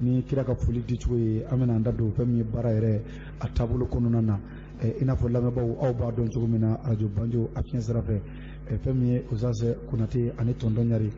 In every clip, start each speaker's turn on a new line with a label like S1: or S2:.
S1: ni kira ka foli dicogo ye an bɛna an da don fɛn min ye baara yɛrɛ a taabolo kɔnɔna na i n'a fɔ lamɛnbaaw aw b'a dɔn cogo min na arajo banjo a fiɲɛ sira fɛ fɛn min ye Ozaze Konate ani Tonton Ɲare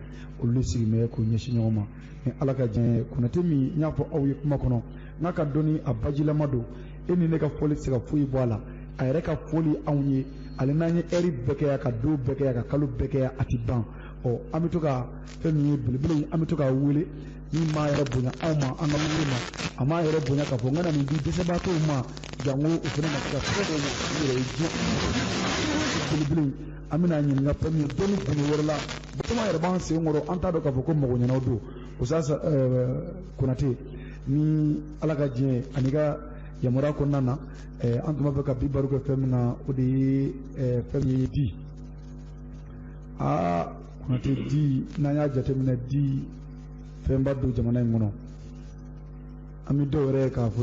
S1: olu sigilen bɛ k'u ɲɛsin ɲɔgɔn ma ni Ala ka diɲɛ ye Konate min n y'a fɔ aw ye kuma kɔnɔ nk'a ka dɔnni a bajilama don e ni ne ka fɔli tɛ se ka foyi bɔ a la a yɛrɛ ka fɔli anw ye hali n'an ye ɛri bɛɛ kɛ yan ka don bɛɛ kɛ yan ka kalo bɛɛ kɛ yan a tɛ ban ɔ an bɛ to ka fɛn min ye belebele in an bɛ to k'a wele min m'a yɛrɛ bonya anw ma an ka wuli ma a m'a yɛrɛ bonya k'a fɔ n kana nin di dɛsɛbaatɔw ma janko u fana na se ka fɛn dɔw ɲɛ u yɛrɛ ye diɲɛ belebele an bɛna ɲininka fɛn min ye dɔnni gundo wɛrɛ la caman yɛrɛ b'an sen kɔrɔ an t'a dɔn k'a fɔ ko mago ɲanan don usasa konate ni ala ka diɲɛ ani ka yamaruya kɔnɔna na an tun b'a fɛ ka bi baro kɛ fɛn min na o de ye fɛn min ye di aa Kɔnate di n'an y'a jateminɛ di fɛnba don jamana in kɔnɔ an bɛ to yɛrɛ k'a fɔ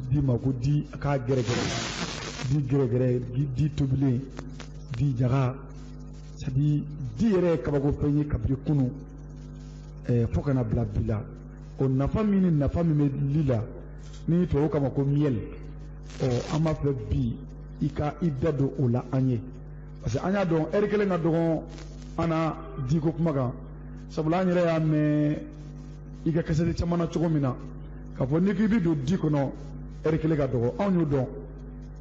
S1: di ma ko di k'a gɛrɛgɛrɛ di gɛrɛgɛrɛ di tobilen di ɲaga sabu di yɛrɛ ye kabako fɛn ye kabiri kunu ɛɛ fo ka na bila bi la o nafa min ni nafa min bɛ li la ni tubabuw k'a ma ko miel ɔ an b'a fɛ bi i ka i da don o la an ye parce que an y'a dɔn ɛri kelen ka dɔgɔn an na diko kuma kan sabula an yɛrɛ y'a mɛn i ka kasɛti caman na cogo min na k'a fɔ n'i k'i bɛ don di kɔnɔ ɛri kelen ka dɔgɔ anw y'o dɔn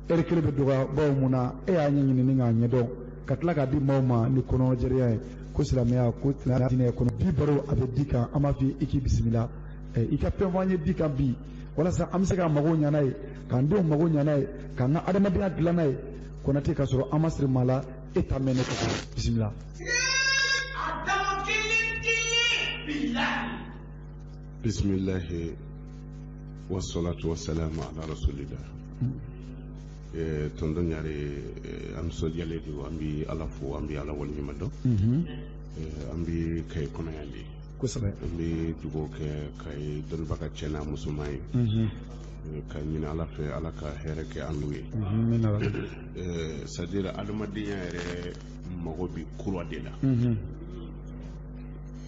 S1: ɛri kelen bɛ dɔgɔya bawo mun na e y'a ɲɛɲini k'a ɲɛdɔn ka tila k'a di maaw ma ni kɔnɔjɛrɛya ye ko silamɛya ko tɛnɛ diinɛ kɔnɔ bi baro a bɛ di kan an b'a f'i i k'i bisimila i ka fɛn fɔ an ye di kan bi walasa an bɛ se k'an mago ɲanan ye k'an denw mago ɲanan ye k'an ka adamadenya dilannan ye konate k'a sɔrɔ an ma siri maa la e t'a mɛn ne ko
S2: bisimila bisimilahi wasalatu wasalamu ala rasulillah eh, tonton ɲare eh, an nisɔndiyalen don an bi ala fo an bi ala waleɲuman dɔn mhm. eh, an bi kaye kɔnɔ yan de kosɛbɛ an bi dugawu kɛ kaye dɔnbaga cɛ n'a musoman ye mhm. ka ɲini ala fɛ ala ka hɛrɛ kɛ an n'u ye eh, c'est-à-dire adamadenya yɛrɛ mago bi kura de la mhm.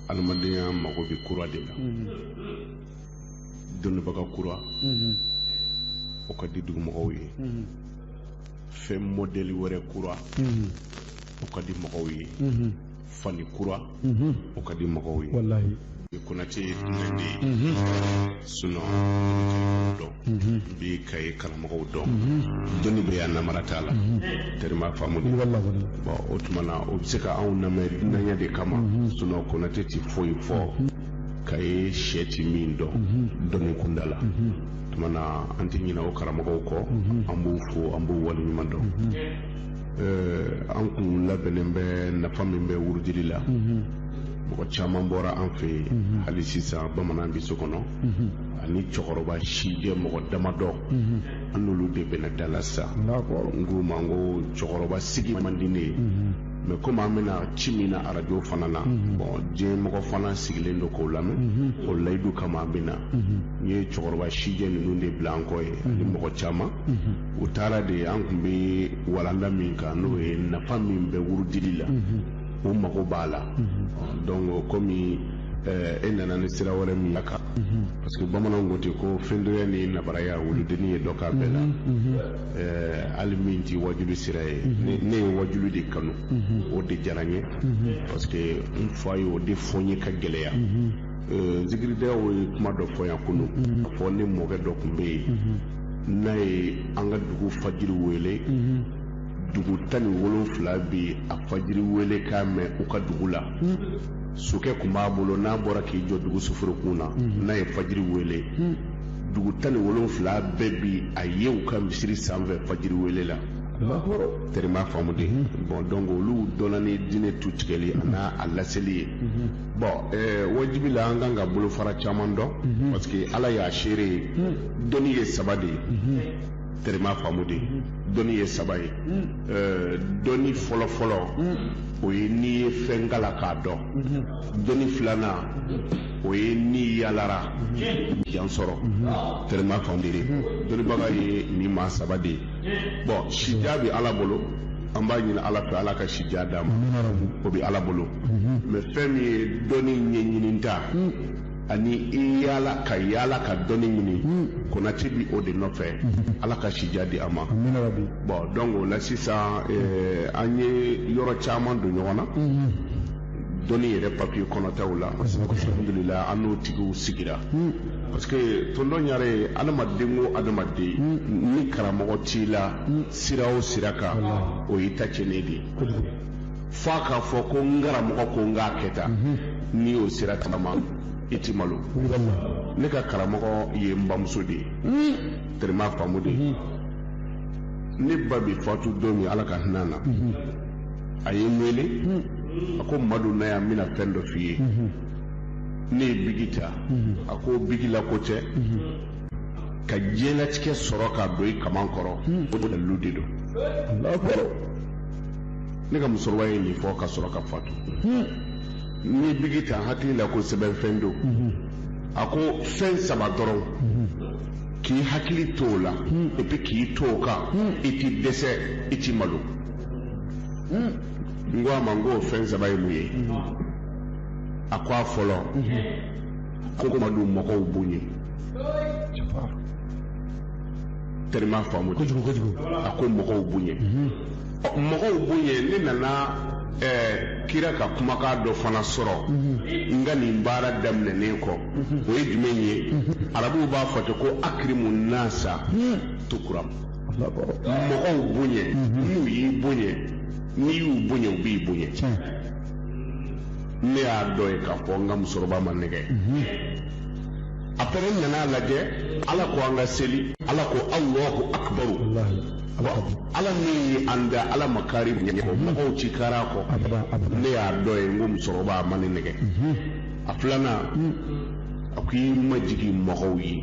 S2: adamadenya mago bi kura de la mhm. dɔnbaga kura mhm. o ka di dugumɔgɔw ye fɛn mɔdɛli wɛrɛ kura o ka di mɔgɔw ye fani kura o ka di mɔgɔw ye ni
S1: konatɛ ye
S2: dunan de ye sinon dɔw bi kayi karamɔgɔw don dɔnni bɛ yan namara t'a la tɛrɛ m'a faamu bon o tuma na o bɛ se ka anw lamɛn dunanya de kama sinon konatɛ tɛ foyi fɔ kayi cɛ ti min dɔn dɔnni kunda la tuma na an tɛ ɲinɛ o karamɔgɔw kɔ an b'u fo an b'u waleɲuman dɔn an kun labɛnnen bɛ nafa min bɛ wurudili la mɔgɔ caman bɔra an fɛ hali sisan bamanan bɛ so kɔnɔ ani cɛkɔrɔba sijɛ mɔgɔ damadɔ an n'olu de bɛna dala sa n ko ma ko cɛkɔrɔba sigi man di ne ye mais komi an bɛna ci min na arajo fana na bon diɲɛ mɔgɔ fana sigilen don k'o lamɛn o layidu kama an bɛna n ye cɛkɔrɔba sijɛ ninnu de bila an kɔ ye ani mɔgɔ caman u taara de an kun bɛ walanda min kan n'o ye nafa min bɛ wurudili la o mago b'a la donc kɔmi eh, e nana ni sira wɛrɛ min la kan parce que bamananw ko ten ko fiyentɔya ni nabaraya wuludenni ye dɔ k'a bɛɛ la Eh, hali min tɛ wajuli sira ye ne- ne ye wajuli de kanu o de diyara n ye parce que n fa ye o de fɔ n ye ka gɛlɛya Eh, zikiridalaw ye kuma dɔ fɔ yan kunun a fɔ ne mɔkɛ dɔ kun bɛ yen n'a ye an ka dugu fajiri wele mhm. dugu tan ni wolonfila bi a fajiri wele k'a mɛn u ka dugu la mhm. sokɛ kun b'a bolo n'a bɔra k'i jɔ dugu soforokun na mhm. n'a ye fajiri wele dugu tan ni wolonfila bɛɛ bi a ye u ka misiri sanfɛ fajiri wele la tɛrɛ m'a faamu dɛ bon donc olu dɔnna ni diinɛ tu tigɛli a n'a a laseli ye bon wajibi la an kan ka bolofara caman dɔn parce que ala y'a seere ye dɔnni ye saba de ye tɛrɛ m'a faamu dɛ dɔnni ye saba ye dɔnni fɔlɔfɔlɔ o ye n'i ye fɛn kalan k'a dɔn dɔnni filanan o ye n'i yaalara jan sɔrɔ tɛrɛ m'a faamu dɛ dɔnnibaga ye nin maa saba de ye bon sijan bɛ ala bolo an b'a ɲini ala fɛ ala ka sijan d'a ma o bɛ ala bolo mais fɛn min ye dɔnni ɲɛɲini ta ani i yaala ka yaala ka dɔnni ɲini konatɛ bi o de nɔfɛ ala ka sijan di a ma bon donc o la sisan an ye yɔrɔ caman don ɲɔgɔn na dɔnni yɛrɛ papiye kɔnɔtaw la alhamdulila an n'o tigiw sigira parce que tondɔn yɛrɛ ye adamaden o adamaden ni karamɔgɔ t'i la sira o sira kan o y'i ta cɛnnen de ye fo a k'a fɔ ko n karamɔgɔ ko n k'a kɛ tan mhm. n'i y'o sira tagama i ti malo ne ka karamɔgɔ ye n bamuso de ye mhm. terima faamu de ye mhm. ne ba bi fatu don min ala ka hinɛ na a ye n wele a ko madu na yan n bɛna fɛn dɔ f'i ye ne ye bigi ta a ko bigi la ko tɛ ka diɲɛlatigɛ sɔrɔ ka don i kaman kɔrɔ hmm. o dalilu de don ne ka musokɔrɔba ye nin fɔ ka sɔrɔ ka fatu hmm. n ye bigi ta n hakili la ko sɛbɛnfɛn don hmm. a ko fɛn saba dɔrɔn k'i hakili to o la epi k'i to o kan i ti dɛsɛ i ti malo n ko a ma n ko o fɛn saba ye mun ye a ko a fɔlɔ ko madu mɔgɔw bonya terima faamu kojugu kojugu a ko mɔgɔw bonya mhm. mɔgɔw bonya ne nana ɛɛ kira ka kumakan dɔ fana sɔrɔ mhm. n ka nin baara daminɛnen kɔ mhm. o ye jumɛn ye arabuw b'a fɔ ten ko akirimu nasa tukuram mɔgɔw bonya n'u y'i bonya n'i y'u bonya u b'i bonya ne y'a dɔn yen k'a fɔ n ka musokɔrɔba ma n nɛgɛ apɛrɛ n nana a lajɛ ala ko an ka seli ala ko alahu akibaru ala min ye an da ala ma kari ɲɛ kɔ mɔgɔw ti kari a kɔ ne y'a dɔn yen n ko musokɔrɔba ma ne nɛgɛ a filanan a ko i majigin mɔgɔw ye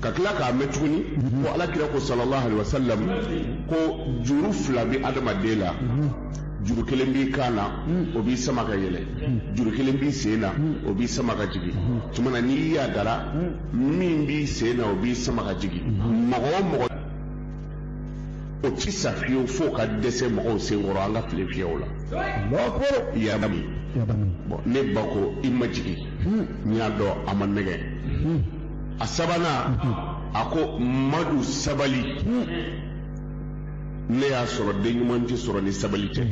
S2: ka tila k'a mɛn tuguni ko ala kira ko sallallahu alaihi wasallam ko juru fila bi adamaden la juru kelen b'i kan na o b'i sama ka yɛlɛ juru kelen b'i sen na o b'i sama ka jigin tuma na n'i yadara min b'i sen na o b'i sama ka jigin mɔgɔ o mɔgɔ o ti sa fiyewu fo ka dɛsɛ mɔgɔw sen kɔrɔ an ka file fiyɛw la yada min bon ne ba ko i majigin n y'a dɔn a ma n nɛgɛ a sabanan a ko madu sabali ne y'a sɔrɔ den ɲuman tɛ sɔrɔ ni sabali tɛ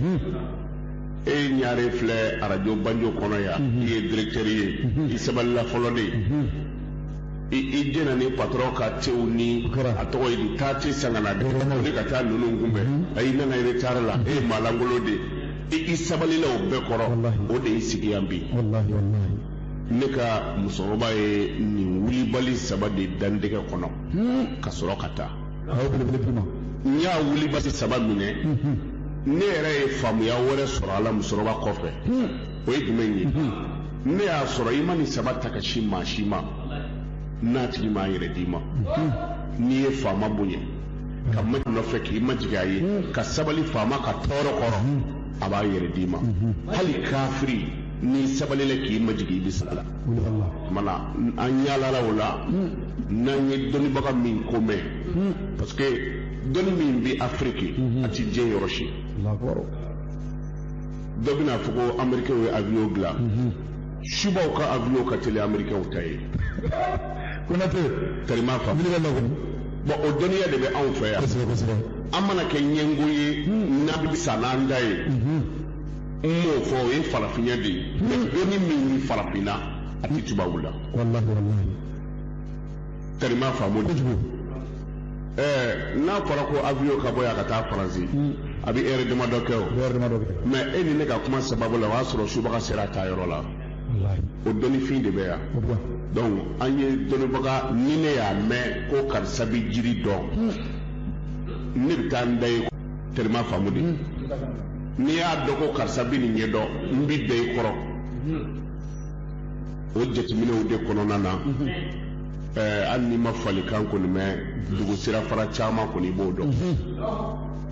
S2: e ye ɲare filɛ arajo banjo kɔnɔ yan i ye direktɛri ye i sabalila fɔlɔ de ye i jɛnna ni patɔrɔn ka te wuli a tɔgɔ ye di taa te san ka na dɛ wuli ka taa ninnu kunbɛn ayi i nana retard la e ye maalankolon de ye i sabalila o bɛɛ kɔrɔ o de y'i sigi yan bi ne ka musokɔrɔba ye nin wulibali saba de da n tɛgɛ kɔnɔ hmm. ka sɔrɔ ka taa n y'a wulibali saba minɛ hmm. ne yɛrɛ ye faamuya wɛrɛ sɔrɔ a la musokɔrɔba kɔfɛ hmm. o ye jumɛn ye ne y'a sɔrɔ i ma nin saba ta ka sin maa si ma n'a tigi m'a yɛrɛ d'i ma n'i ye faama bonya ka ma nɔfɛ k'i majigin a ye ka sabali faama ka tɔɔrɔ kɔrɔ a b'a yɛrɛ d'i ma hali kafiri n'i sabalila k'i majigin i bɛ se a la kumana an yaalala o la n'an ye dɔnnibaga min ko mɛn parce que dɔnni min bɛ afiriki a ti diɲɛ yɔrɔ si dɔ bɛna fɔ ko amerikɛw ye avion dilan subaw ka avion ka teli amerikɛw ta ye konate teri m'a faamu bɔn o dɔnniya de bɛ anw fɛ yan an mana kɛ ɲɛngo ye n'a bɛ sa n'an da ye n m'o fɔ o ye farafinya de ye dɔnni min bɛ farafinna a tɛ tubabu la teri m'a faamu kojugu ɛɛ n'a fɔra ko avion ka bɔ yan ka taa faransi a bɛ ɛri damadɔ kɛ o mɛ e ni ne ka kuma sababu la o y'a sɔrɔ subaga sera a taa yɔrɔ la o dɔnnifin de bɛ yan donc an ye dɔnnibaga ni ne y'a mɛn ko karisa bɛ jiri dɔn hmm. ne bɛ taa n da yen teri m'a faamu dɛ hmm. n'i y'a dɔn ko karisa bɛ nin ɲɛdɔn n bɛ da i kɔrɔ hmm. o jateminɛw de kɔnɔna na hali n'i ma falikan kɔni mɛn dugu sirafara caman kɔni i b'o dɔn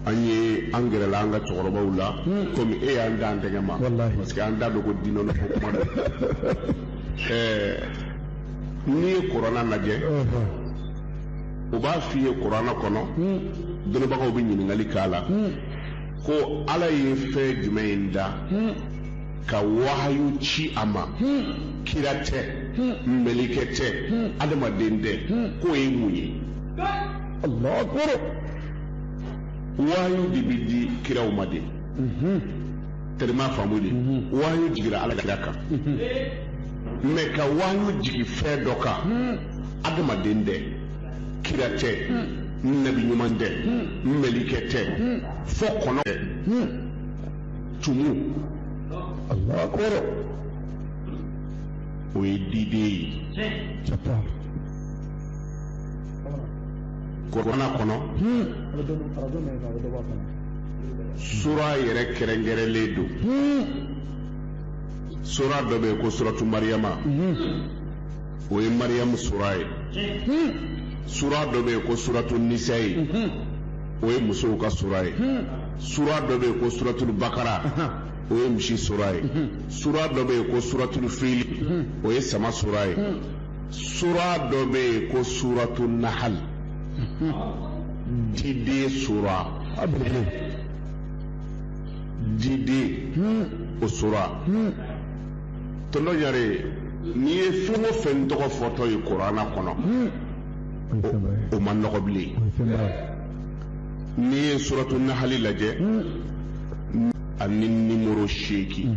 S2: an ye an gɛrɛla an ka cɛkɔrɔbaw la hmm. komi e y'an da an tɛgɛ ma parce que an da dogo dinɔnɔ ko kuma na ɛɛ n'i ye kurana lajɛ u b'a f'i ye kurana kɔnɔ hmm. dɔnnibagaw bɛ ɲininkali k'a la hmm. ko ala ye fɛn jumɛn in da ka wahayu ci a ma kira tɛ mɛlikɛ tɛ adamaden tɛ k'o ye mun ye. wayu de bɛ di kiraw ma de teri m'a faamu dɛ wayu jigira ala kira kan mɛ ka wayu jigin fɛn dɔ kan adamaden tɛ kira tɛ nabi ɲuman tɛ mɛlikɛ tɛ fo kɔnɔ tɛ tumu kɔrɔ o ye diden ye kurana kɔnɔ sura yɛrɛ kɛrɛnkɛrɛnlen don sura dɔ bɛ yen ko suratu mariyama o ye mariyamu sura ye sura dɔ bɛ yen ko suratu nisayi o ye musow ka sura ye sura dɔ bɛ yen ko suratul bakara o ye misi sura ye sura dɔ bɛ yen ko suratul fili o ye sama sura ye sura dɔ bɛ yen ko suratu nahal diden sura diden o sura tɔnɔ yɛrɛ n'i ye fɛn o fɛn tɔgɔ fɔtɔ ye kurana kɔnɔ o man nɔgɔ bilen n'i ye suratu nahali lajɛ ani nimoro seegin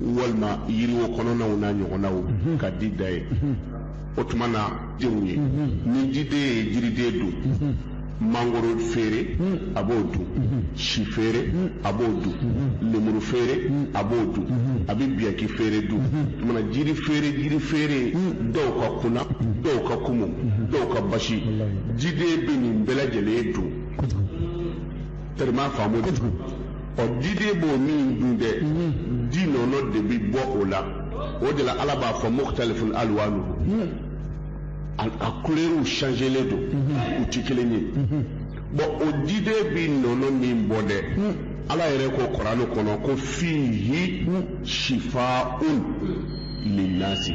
S2: walima yiriwo kɔnɔnaw n'a ɲɔgɔnnaw mhm. ka di da yen mhm. o tuma na denw ye mhm. ni diden ye jiriden dun mangoro feere a b'o dun si feere a b'o dun lemuru feere a b'o dun a bɛ biyaki feere dun mana jiri feere jiri feere dɔw ka kuna dɔw ka kumu dɔw ka basi diden bɛ nin bɛɛ lajɛlen dun tellement faamu ɔ diden b'o min dun dɛ di nɔnɔ de bi bɔ o la o de la ala b'a fɔ mukhtalifun alwanuhu a couleurs changelen don u ti kelen ye bon o diden bi nɔnɔ min bɔ dɛ ala yɛrɛ ko kurana kɔnɔ ko fihi shifaun linnasi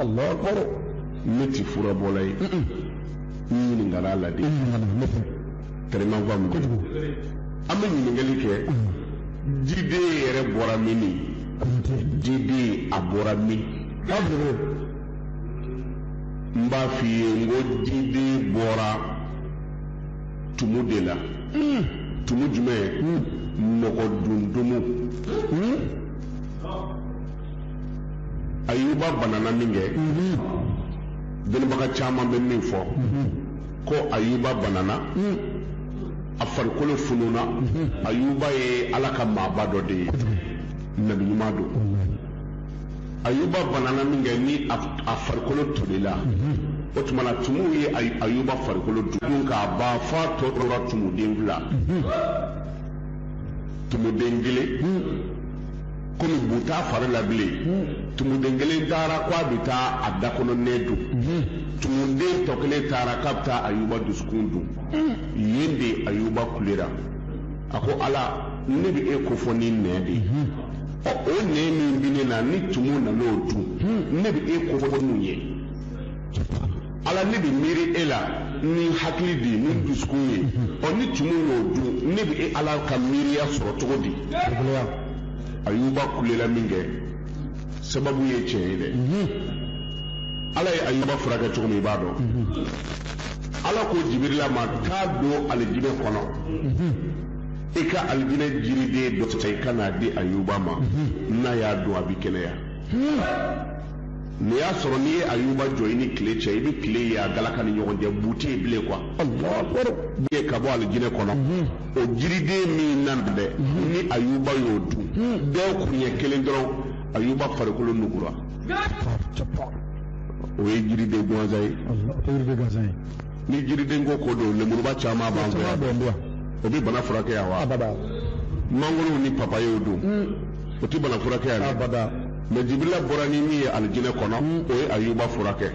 S2: Allah akbar ne ti furabɔla ye n ɲininkala a la de tellement faamu kojugu an bɛ ɲininkali kɛ diden yɛrɛ bɔra min ni diden a bɔra min k'a bolo n b'a f'i ye n ko diden bɔra tumu de la tumu jumɛn mɔgɔ dun tumu ayuba banana min kɛ dɔnnibaga caman bɛ min fɔ ko ayuba banana a farikolo fununa ayuba ye ala ka maaba dɔ de ye nabi ɲuman don ayuba banana min kɛ ni a farikolo tolila o tuma na tumuw ye ayuba farikolo dun k'a ban f'a tɔ tora tumuden fila tumuden kelen komi bu t'a fari la bilen tumuden kelen taara k'a bɛ taa a da kɔnɔ nɛɛ dun tumuden tɔ kelen taara k'a bɛ taa ayuba dusukun dun yen de ayuba kulera a ko ala ne bɛ e kofɔ ni nɛɛ de ye ɔ o nɛɛ min bɛ ne na ni tumu nan'o dun ne bɛ e kofɔ n'u ye ala ne bɛ miiri e la ni hakili de ye ni dusukun ye ɔ ni tumu y'o dun ne bɛ e ala ka miiriya sɔrɔ cogo di. ayuba kulela min kɛ sababu ye tiɲɛ ye dɛ mhm. ala ye ayuba furakɛ cogo min i b'a dɔn mhm. ala ko jibirila ma taa don alijinɛ kɔnɔ mhm. i ka alijinɛ jiriden dɔ ta i ka n'a di ayuba ma n'a y'a dun a bɛ kɛnɛya hmm. n'i y'a sɔrɔ n'i ye ayuba jɔ i ni tile cɛ i bɛ tile ye a galaka ni ɲɔgɔn cɛ bu tɛ yen bilen quoi ka bɔ alijinɛ kɔnɔ o jiriden min na dɛ ni ayuba y'o dun dɔgɔ kuɲɛ kelen dɔrɔn ayuba farikolo nugura o ye jiriden gansan ye ni jiriden ko ko don lemuruba caman b'an fɛ yan o bɛ bana furakɛ yan wa mangoro ni papayew dun o tɛ bana furakɛ yan dɛ mɛ jibirila bɔra ni min ye alijinɛ kɔnɔ o ye ayuba furakɛ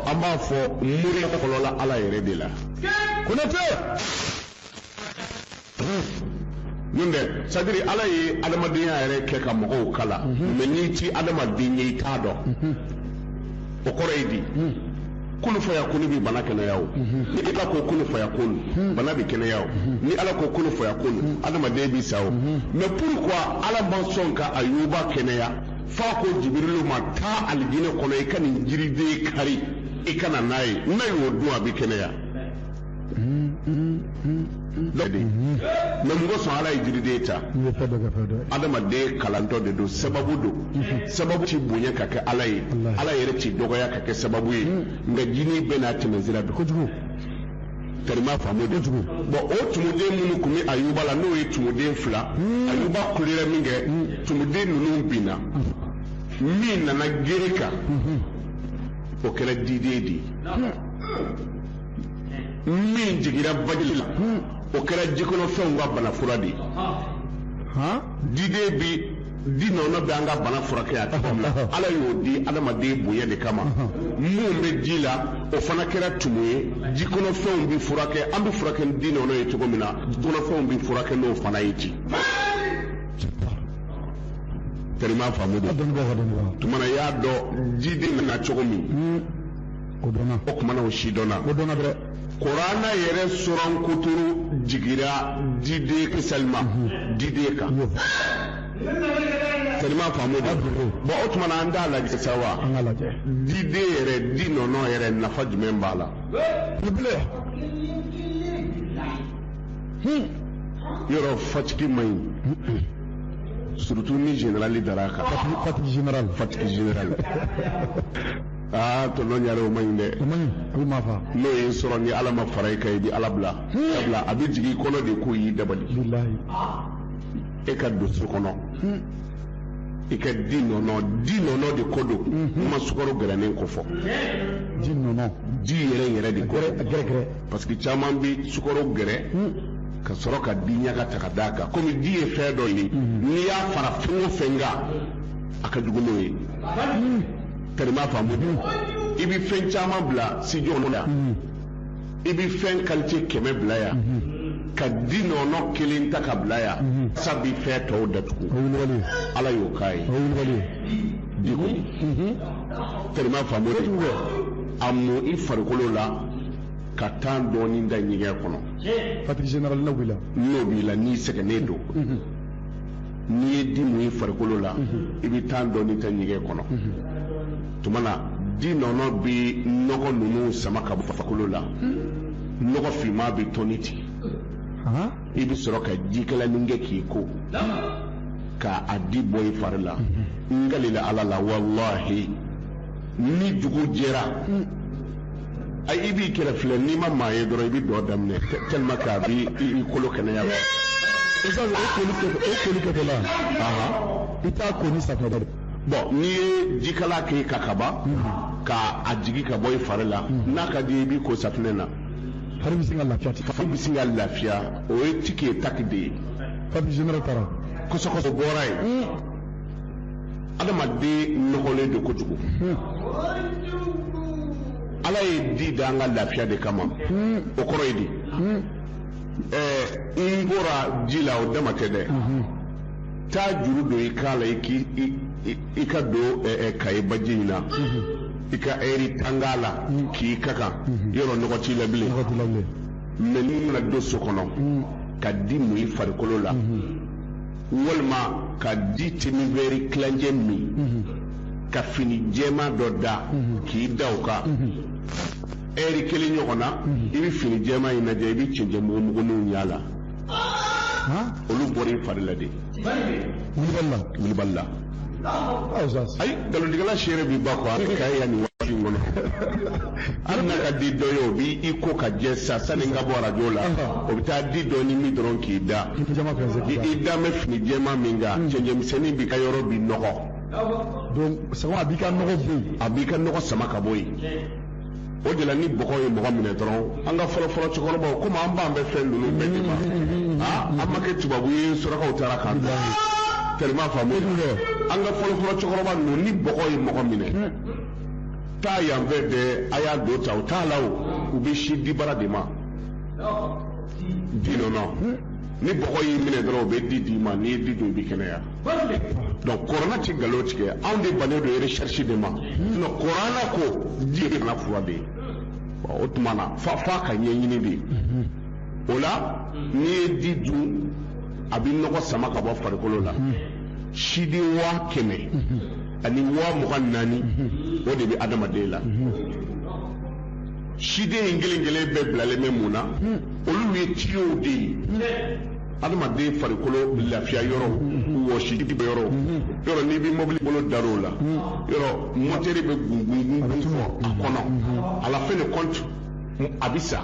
S2: an b'a fɔ mori kɔlɔla ala yɛrɛ de la konate min bɛ sadiri ala ye adamadenya yɛrɛ kɛ ka mɔgɔw kalan mhm. mɛ n'i ti adamaden ye i t'a dɔn mhm. o kɔrɔ ye di mhm. kun fayakun bi bana kɛnɛya o ni ala ko kun fayakun bana bi kɛnɛya o ni ala ko kun fayakun adamaden bi sa o mɛ pourquoi ala ma sɔn ka ayuba kɛnɛya f'a ko jibirilu ma taa alijinɛ kɔnɔ i ka nin jiriden kari i ka na n'a ye n'a y'o dun a bi kɛnɛya ladi mɛ mun kosɔn ala ye jiriden ta adamaden kalantɔ de don sababu don sababu ti bonya ka kɛ ala ye ala yɛrɛ ti dɔgɔya ka kɛ sababu ye nka jini bɛɛ n'a tɛmɛsira don kojugu karima faamu de tugu bɔn o tumuden minnu tun bɛ ayuba la n'o ye tumuden fila ayuba kulera min kɛ tumuden ninnu binna min nana gere kan o kɛra diden de ye min jigira baji la o kɛra jikɔnɔfɛnw ka bana fura de ye diden bi di nɔnɔ bɛ an ka bana furakɛ a cogo min na ala y'o di adamaden bonya de kama min bɛ ji la o fana kɛra tumu ye jikɔnɔfɛnw bɛ furakɛ an bɛ furakɛ ni di nɔnɔ ye cogo min na kɔnɔfɛnw bɛ furakɛ n'o fana ye ten karima faamu don tuma na i y'a dɔn diden nana cogo min o dɔnna o kumana o si dɔnna o dɔnna dɛ kurana yɛrɛ suran kuturu jigira diden kisalima mhm. diden kan karima faamu de bon o tuma na an t'a lajɛ sa wa an ka lajɛ diden yɛrɛ di nɔnɔ yɛrɛ nafa jumɛn b'a la bilen yɔrɔ fatigue man ɲi surtout ni générale dara kan fatigue générale fatigue générale aa tɔnɔ ɲare o man ɲi dɛ o man ɲi a bɛ maa faa n'o y'i sɔrɔ ni ala ma fara i kan i bɛ ala bila sabula a bɛ jigin i kɔnɔ de ko y'i dabali bilahi e ka don so kɔnɔ i ka di nɔnɔ di nɔnɔ de ko don n ma sukaro gɛrɛnen kofɔ di nɔnɔ di yɛrɛ yɛrɛ de ko gɛrɛ gɛrɛ gɛrɛ parce que caman bɛ sukaro gɛrɛ ka sɔrɔ ka di ɲaga ta ka d'a kan komi di ye fɛn dɔ ye n'i y'a fara fɛn o fɛn kan a ka jugu n'o ye karima faamu i bɛ fɛn caman bila studio la i bɛ fɛn kalite kɛmɛ bila yan ka di nɔnɔ kelen ta ka bila yan sabi fɛn tɔw datugu ala y'o k'a ye di ko karima faamu de a mun i farikolo la ka tan dɔɔnin ta ɲɛgɛn kɔnɔ fatigue générale n'o b'i la n'i sɛgɛnnen don n'i ye di mun i farikolo la i bɛ tan dɔɔni ta ɲɛgɛn kɔnɔ tuma na di nɔnɔ bɛ nɔgɔ ninnu sama ka bɔ farikolo la nɔgɔ finman bɛ tɔni ten i bɛ sɔrɔ ka jikalanin kɛ k'i ko ka a di bɔ i fari la n kalila ala la walahi ni dugu jɛra i b'i kɛrɛ filɛ n'i ma maa ye dɔrɔn i bɛ dɔ daminɛ tellement que a b'i kolo kɛnɛya wa i ka o
S1: koli kɛ o koli kɛ la i t'a ko ni safunɛ dɛ bon n'i
S2: ye jikalan kɛ ka kaba ka a jigi ka bɔ i fari la n'a ka d'i ye i b'i ko safunɛ na fari bɛ sin ka
S1: lafiya ten fari bɛ sin ka lafiya
S2: o ye tiki ye taki de ye fatigue
S1: générale taara kɔsɔkɔsɔ bɔra
S2: yen adamaden nɔgɔlen don kojugu ala ye di dan an ka lafiya de kama o kɔrɔ ye di ɛɛ n bɔra ji la o dama tɛ dɛ taa juru don i kan la i k'i i ka don kaye baji in na i ka ɛri tan k'a la k'i ka kan yɔrɔ nɔgɔ t'i la bilen mais n'i nana don so kɔnɔ ka di mun i farikolo la walima ka di demi-verre tilancɛ min mhm. ka fini jɛma dɔ da mhm. k'i da o kan ɛri kelen ɲɔgɔn na i bɛ fini jɛma in lajɛ i bɛ cɛncɛn mugumuguninw y'a la olu bɔra i fari la de wulibali la wulibali la ayi nkalontigɛla seere bi ba kɔ a bɛ ka yan nin waati in kɔnɔ hali n'a ka di dɔ ye o b'i ko ka jɛ sa sani n ka bɔ arajo la o bɛ taa di dɔɔnin min dɔrɔn k'i da i da bɛ fini jɛman min kan cɛncɛnmisɛnnin b'i ka yɔrɔ bi nɔgɔ donc
S1: sama a b'i ka nɔgɔ bɔ yen a b'i ka nɔgɔ sama ka
S2: bɔ yen o de la ni bɔgɔ ye mɔgɔ minɛ dɔrɔn an ka fɔlɔfɔlɔ cɛkɔrɔbaw komi an bannen bɛ fɛn ninnu bɛɛ de ma aa an ma kɛ tubabu ye surakaw taara k'an bila tellement faamu an ka fɔlɔfɔlɔ cɛkɔrɔba ninnu ni bɔgɔ ye mɔgɔ minɛ taa yan fɛ dɛ a y'a don ta u t'a la o u bɛ sin dibara de ma dinɔnɔ ni bɔgɔ y'i minɛ dɔrɔn u bɛ di d'i ma n'i ye di dun i bɛ kɛnɛya donc kurana tɛ nkalon tigɛ anw de bannen don recherche de ma sinon kurana ko di ye bana fura de ye o tuma na f'a f'a ka ɲɛɲini de o la n'i ye di dun a bɛ nɔgɔ sama ka bɔ farikolo la siden waa kɛmɛ ani waa mugan naani o de bɛ adamaden la siden in kelen kelen bɛɛ bilalen bɛ mun na olu ye tiyow de ye adamaden farikolo lafiya yɔrɔ wɔsi bɔ yɔrɔ yɔrɔ n'i bɛ mɔbili bolo dar'o la yɔrɔ mɔtɛri bɛ gungungun fo a kɔnɔ à la fin de compte a bɛ sa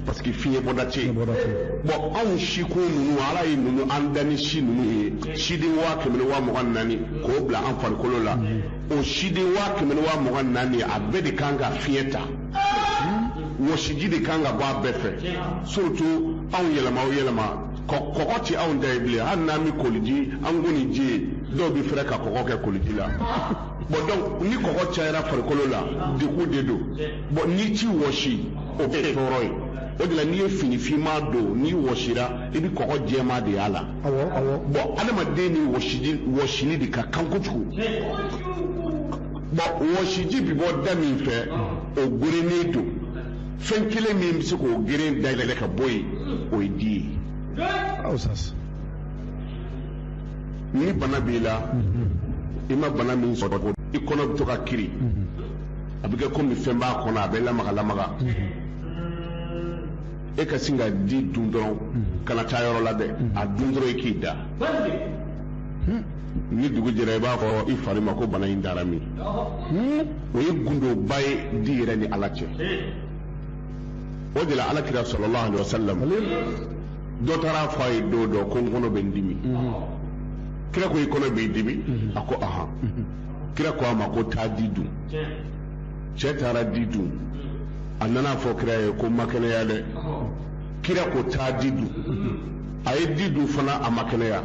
S2: parce que fiɲɛ bɔda tɛ yen bɔn anw sikun ninnu ala ye ninnu an da ni si ninnu ye siden waa kɛmɛ ni waa mugan naani k'o bila an farikolo la o siden waa kɛmɛ ni waa mugan naani a bɛɛ de kan ka fiɲɛ ta wɔsiji de kan ka bɔ a bɛɛ fɛ surtout anw yɛlɛma o yɛlɛma kɔgɔ tɛ anw da ye bilen hali n'an bɛ koliji an ko ni ji ye dɔw bɛ fɛrɛ ka kɔgɔ kɛ koliji la bɔn donc ni kɔgɔ cayara farikolo la degun de don bɔn n'i t'i wɔsi o bɛ tɔɔrɔ ye o de la n'i ye fini finman don n'i wɔsira i bɛ kɔgɔ jɛman de y'a la bɔn adamaden ni wɔsili de ka kan kojugu bɔn wɔsiji bi bɔ da min fɛ o gerennen don fɛn kelen min bɛ se k'o geren dayɛlɛ ka bɔ yen o ye di ye ni bana b'i la i ma bana min sɔrɔ ko i kɔnɔ bɛ to ka kiri a bɛ kɛ komi fɛn b'a kɔnɔ a bɛ lamaga lamaga e ka sin ka di dun dɔrɔn kana taa yɔrɔ la dɛ a dun dɔrɔn i k'i da ni dugu jɛra i b'a fɔ i fari ma ko bana in taara min o ye gundoba ye di yɛrɛ ni ala cɛ o de la ala kira sallallahu alaihi wasallam dɔ taara a fɔ a ye don dɔ ko n kɔnɔ bɛ n dimi kira ko i kɔnɔ b'i dimi a ko ahan kira ko a ma ko taa di dun cɛ taara di dun a nana a fɔ kira ye ko ma kɛnɛya dɛ kira ko taa di dun a ye di dun fana a ma kɛnɛya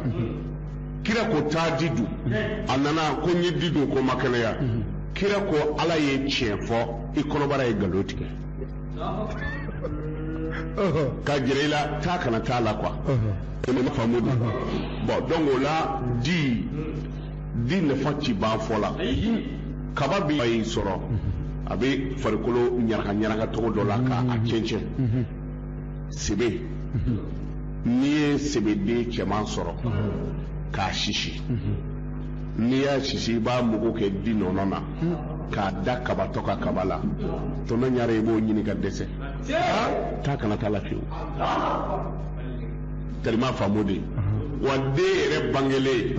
S2: kira ko taa di dun a nana ko n ye di dun ko ma kɛnɛya kira ko ala ye tiɲɛ fɔ i kɔnɔbara ye nkalon tigɛ ka jira i la taa kana taa la kuwa ko ne ma faamu de bon donc o la di di nafa ti ban fɔ la kaba bi y'i sɔrɔ a bɛ farikolo ɲaraka ɲaraka cogo dɔ la ka a cɛncɛn sebe n'i ye sebeden cɛman sɔrɔ k'a sisi n'i y'a sisi i b'a mugu kɛ di nɔnɔ na k'a da kabatɔ ka kaba la tɔntɔn ɲare i b'o ɲini ka dɛsɛ taa kana taa la fiyewu tɛrima faamu de wa den yɛrɛ bangelen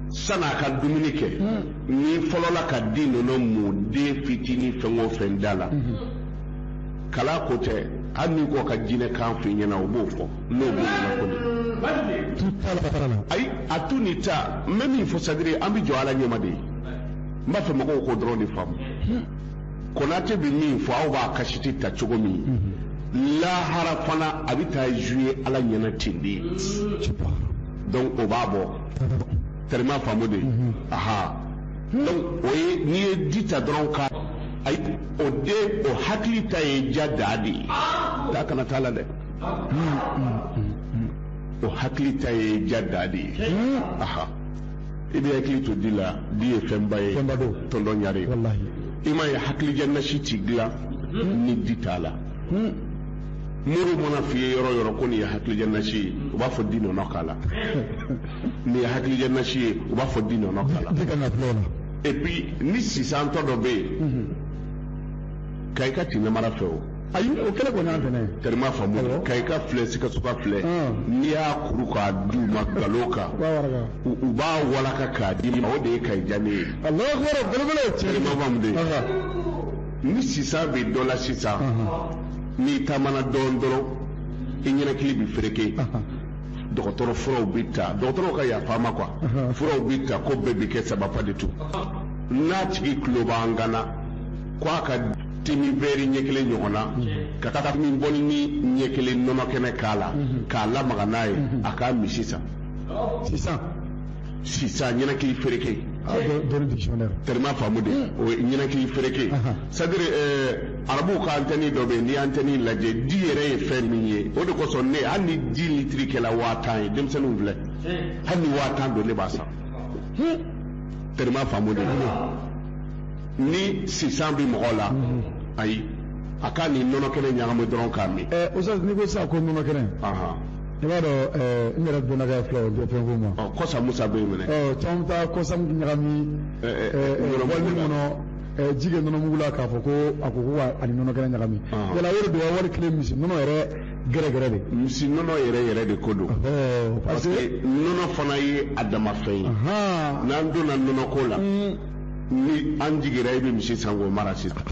S2: sani a ka dumuni kɛ n'i fɔlɔla ka di nɔnɔ mun den fitinin fɛn o fɛn da la kalan ko tɛ hali n'i ko ka jinɛ kan f'i ɲɛna o b'o fɔ n'o b'o ɲɛna ko de tu t'a la patara la ayi a tu ni ta n bɛ min fɔ sadiri an bɛ jɔ ala ɲɛma de ye n b'a fɛ mɔgɔw k'o dɔrɔn de faamu konate bɛ min fɔ aw b'a kasɛti ta cogo min lahara fana a bɛ taa zuye ala ɲɛna ten de donc o b'a bɔ tɛrɛma faamu de aha donc o ye n'i ye di ta dɔrɔn ka ayi o den o hakili ta ye ja da de ye da kana t'a la dɛ o hakili ta ye ja da de ye aha i b'i hakili to di la di ye fɛnba ye fɛnba don tɔntɔn ɲare i m'a ye hakilidiya nasi ti dilan ni di t'a la mori man'a f'i ye yɔrɔ o yɔrɔ ko nin ye hakilidiya nasi ye u b'a fɔ di nɔnɔ k'a la nin ye hakilidiya nasi ye u b'a fɔ di nɔnɔ k'a la et puis ni sisantɔ dɔ bɛ yen kayikaw ti namara fɛ o ayi o kɛlɛ kɔni
S1: y'an fɛnɛ ye tɛrima faamu Awɔ. kayika
S2: filɛ sikasoka filɛ Ɔn. n'i y'a kuru k'a d'u ma nkalon kan B'a waraka. u u b'a walaka k'a d'i ma o de ye kayi diya ne ye Allahu akbar belebele ye tiɲɛ tɛrima faamu de Aha, ni sisan bɛ dɔ la sisan aha, n'i taamana dɔɔnin dɔrɔn i ɲɛnakili bɛ fereke aha. dɔgɔtɔrɔ furaw bɛ ta dɔgɔtɔrɔw ka yafa n ma kuwa furaw bɛ ta ko bɛɛ bɛ kɛ sababu de to n'a tigi tulo b'an kan na ko a ka te min wɛri ɲɛ kelen ɲɔgɔn na kafe min bɔlinin ɲɛ kelen nɔnɔ kɛnɛ k'a la k'a lamaga n'a ye a k'a min sisan sisan sisan ɲɛnakili fereke terima faamu de o ye ɲɛnakili fereke sadiri arabuw ka antɛni dɔ bɛ yen n'i ye antɛni lajɛ di yɛrɛ ye fɛn min ye o de kosɔn ne hali ni di litiri kɛla waa tan ye denmisɛnninw filɛ hali ni waa tan don ne b'a san tɛrɛma faamu de ni sisan bɛ mɔgɔ la ayi a k'a ni nɔnɔ kɛnɛ ɲagami dɔrɔn k'a min. ɛ o sɔrɔ n'i ko sisan
S1: ko nɔnɔ kɛnɛ. i b'a dɔn ɛɛ n yɛrɛ donna ka fila o bɛɛ fɛn ko ma. ɔ kɔsa musa bɛ yen minɛ.
S2: ɔ caman bɛ taa kɔsa
S1: ɲagami. ɛɛ ɛɛ ɛɛ walima kɔnɔ. ji kɛ nɔnɔmugu la k'a fɔ ko a ko ko a ni nɔnɔ kɛnɛ ɲagami yala o de don wali kelen misi nɔnɔ yɛrɛ gɛrɛgɛrɛ de misi nɔnɔ yɛrɛ yɛrɛ
S2: de ko don parce que nɔnɔ fana ye a dama fɛn ye n'an donna nɔnɔko la ni an jigira i bɛ misi san k'o mara sisan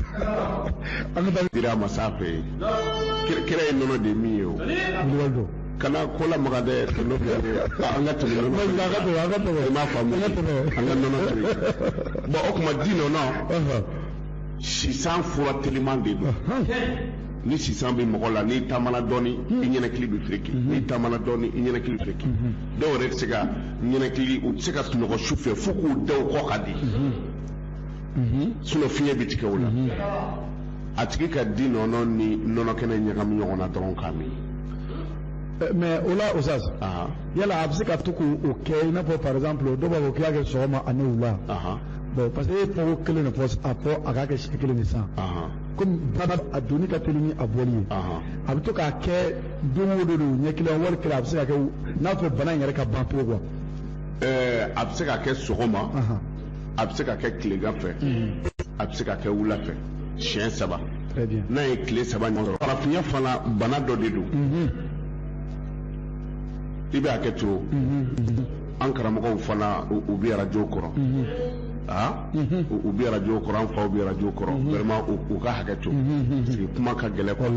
S2: an bɛ taa dira masa fɛ yen kira ye nɔnɔ de min ye o kana ko la maga dɛ kɛmɛ fila de ye an ka tɛmɛ nɔnɔ feere an ka tɛmɛ an ka tɛmɛ i m'a faamu an ka tɛmɛ an ka nɔnɔ feere bon o tuma di nɔnɔ sisan fura teliman de don ni sisan bɛ mɔgɔ la n'i taamana dɔɔni hmm. i ɲɛnakili bɛ firiki hmm. n'i taamana dɔɔni i ɲɛnakili bɛ firiki hmm. dɔw yɛrɛ tɛ se ka ɲɛnakili u tɛ se ka sunɔgɔ su fɛ fo k'u da u kɔ ka di mhm. sinon fiɲɛ bɛ tigɛ o la mhm. a tigi ka di nɔnɔ ni nɔnɔ kɛnɛ ɲagami ɲɔgɔn na dɔrɔn k'a min eh, mais o la Oustaz ah. yala a bɛ se ka to k'o kɛ i n'a fɔ par exemple dɔw b'a fɔ k'i y'a kɛ sɔgɔma ani wula bon parce que e ye fɔko kelen de fɔ a fɔ a k'a kɛ siɲɛ kelen de san komi bana a donni ka teli ni a bɔli ye a bɛ to k'a kɛ don o don de ɲɛ kelen wali kelen a bɛ se ka kɛ n'a b'a fɛ bana in yɛrɛ ka ban pewu quoi a bɛ se ka kɛ sɔgɔma a bɛ se ka kɛ tilegan fɛ a bɛ se ka kɛ wula fɛ siɲɛ saba n'a ye tile saba ɲɔgɔn sɔrɔ farafinya fana bana dɔ de don i bɛ hakɛ to an karamɔgɔw fana u bɛ arajo kɔrɔ aa u bɛ arajo kɔrɔ an faw bɛ arajo kɔrɔ vraiment u ka hakɛ to parce que kuma ka gɛlɛn quoi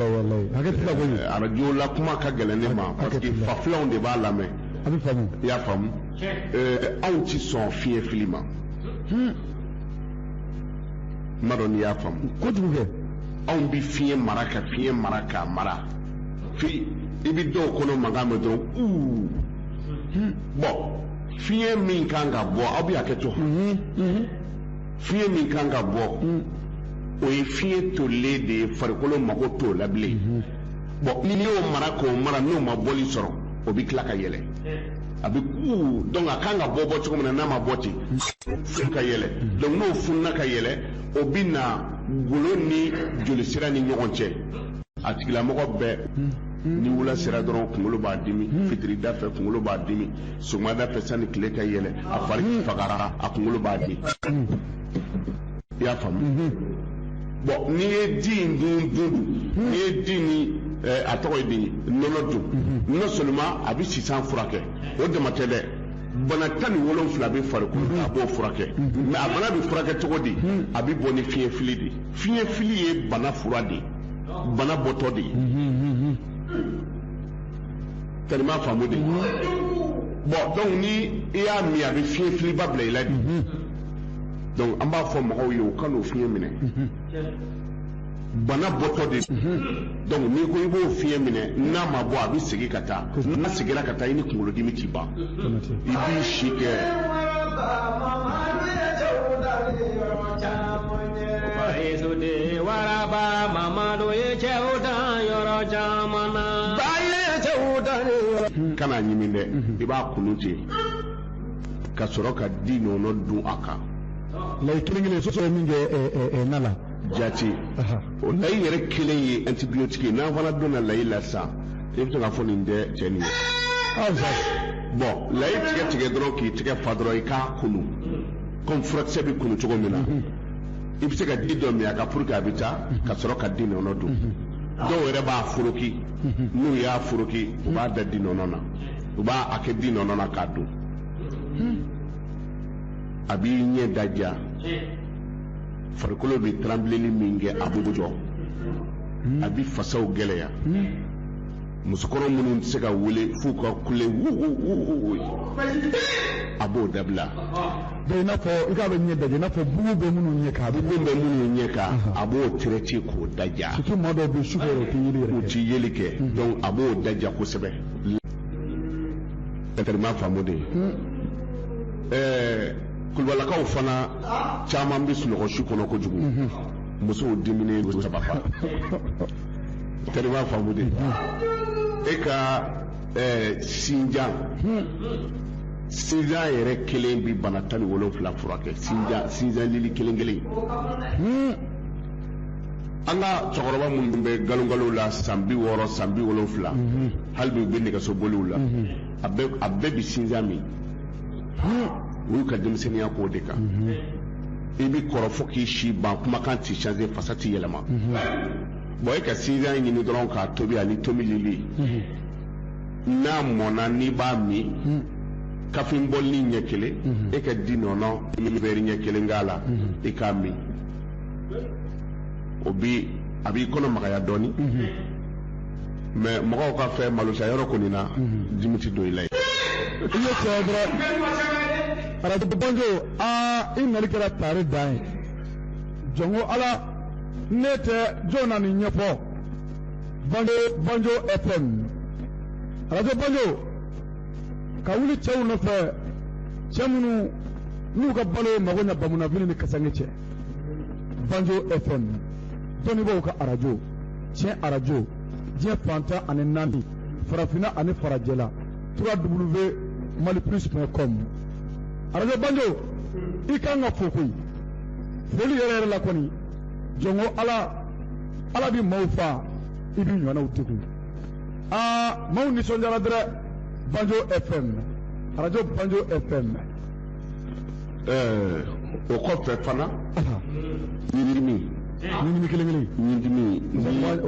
S2: arajo la kuma ka gɛlɛn ne ma parce que fafilanw de b'a lamɛn i y'a faamu anw tɛ sɔn fiɲɛ fili ma hmm. n m'a dɔn n'i y'a faamu kojugu kɛ anw bɛ fiɲɛ mara ka fiɲɛ mara k'a mara fo i bɛ dɔw kɔnɔ mankan mɛn dɔrɔn uu hmm. bon fiɲɛ min kan ka bɔ aw bɛ hakɛ to hmm, fiɲɛ min kan ka bɔ o ye fiɲɛ tolilen de ye farikolo mago t'o la bilen bon n'i y'o mara k'o mara n'o ma bɔli sɔrɔ o bɛ tila ka yɛlɛ a bɛ kuu donc a kan ka bɔ bɔ cogo min na n'a ma bɔ ten funu ka yɛlɛ donc n'o fununa ka yɛlɛ o bɛ na golo ni jolisira ni ɲɔgɔn cɛ a tigilamɔgɔ bɛɛ ni wula sera dɔrɔn kunkolo b'a dimi fitirida fɛ kunkolo b'a dimi sɔgɔmada fɛ sanni tile ka yɛlɛ a fari fagara a kunkolo b'a dimi i y'a faamu bɔn n'i ye di in dun dun n'i ye di ni eh, a tɔgɔ ye di nɔnɔ dun non seulement a bɛ sisan furakɛ o dama tɛ dɛ bana tan ni wolonwula bɛ farikolo la a b'o furakɛ mɛ a bana bɛ furakɛ cogo di a bɛ bɔ ni fiɲɛ fili de ye fiɲɛ fili ye bana fura de ye bana bɔtɔ de ye teri m'a faamu de bɔn dɔnku ni i y'a min a bɛ fiɲɛ filiba bila i la de donc an b'a fɔ mɔgɔw ye u kan'o fiɲɛ minɛ bana bɔtɔ de donc n'i ko i b'o fiɲɛ minɛ n'a ma bɔ a bɛ segin ka taa n'a seginna ka taa i ni kunkolodimi tɛ ban i b'i si kɛ Bayesode waraba mamadu ye cɛw dan yɔrɔ caman na. Bayi ye cɛw dan yɔrɔ. kana ɲimi dɛ i b'a kunu ten ka sɔrɔ ka di nɔnɔ dun a kan layi
S1: kelen kelen sɔsɔ ye min kɛ ɛ, ɛ, ɛ, na la jati
S2: Aha. o layi yɛrɛ kelen ye antibiyotiki ye n'an fana donna layi la sisan i bɛ to k'a fɔ nin tɛ cɛ nin ye aw sa bɔn layi tigɛ tigɛ dɔrɔn k'i tɛgɛ fa dɔrɔn i k'a kunu kɔmi furakisɛ bɛ kunu cogo min na i bɛ se ka ji dɔ min a kan puru k'a bɛ taa ka sɔrɔ ka di nɔnɔ dun dɔw yɛrɛ b'a foroki n'u y'a foroki u b'a da di nɔnɔ na u b'a a kɛ di nɔnɔ na k'a dun a b'i ɲɛ daja farikolo bɛ tranbileli min kɛ a b'o jɔ a bɛ fasaw gɛlɛya musokɔrɔ minnu tɛ se ka wuli f'u ka kule wuuuuuuu a b'o dabila bɛɛ i
S1: n'a fɔ i k'a bɛ ɲɛ daja i n'a fɔ bugu bɛ minnu ɲɛ kan bugu bɛ minnu ɲɛ kan
S2: a b'o traité k'o daja surtout maa dɔw bɛ yen su fɛ
S1: u tɛ yeli yɛrɛ u tɛ yeli kɛ
S2: donc a b'o daja kosɛbɛ teri m'a faamu de ye ɛɛ kulubalakaw fana caman bɛ sunɔgɔ su kɔnɔ kojugu musow diminen don saba fa teri m'a faamu de ye e ka ɛɛ sinjan sinjan yɛrɛ kelen bɛ bana tan ni wolonwula furakɛ sinjan sinjan lili kelen kelen. an ka cɛkɔrɔba minnu bɛ nkalonkalonw la san bi wɔɔrɔ san bi wolonwula mhm. hali bi u bɛ nɛgɛsoboliw la mhm. a bɛɛ bi sinjan min u y'u ka denmisɛnninya k'o de kan mhm. i bi kɔrɔ fo k'i si ban kumakan ti changer fasa ti yɛlɛma bon e ka sinjan ɲini dɔrɔn k'a tobi ani tomi lili n'a mɔnna n'i b'a min kafe bɔli ɲɛ kelen e ka di nɔnɔ verre ɲɛ kelen k'a la i k'a min o bi a b'i kɔnɔ magaya dɔɔni mhm. mais mɔgɔw ka fɛ malosa yɔrɔ kɔni na mhm. dimi tɛ don i la ye i
S1: ye cɛ dɔrɔn arajo banjo aa i nali kɛra taari dan ye jɔnko ala ne tɛ jɔn na nin ɲɛfɔ arajo banjo fm arajo banjo ka wuli cɛw nɔfɛ cɛ minnu n'u ka balo ye mago ɲɛ bamunafini ni kasange cɛ banjo fm dɔnnibaaw ka arajo tiɲɛ arajo diɲɛ fan tan ani naani farafinna ani farajɛla trois w mali plus point com arajo banjo i kan ka fo koyi foli yɛrɛ yɛrɛ la kɔni jɔnko ala ala bi maaw fa i bi ɲɔgɔnnaw tugu aa maaw nisɔndiyara dɛrɛ banjo fm arajo banjo fm
S2: ɛɛ o kɔfɛ fana ɲindimi
S1: ɲindimi kelen kelen
S2: ɲindimi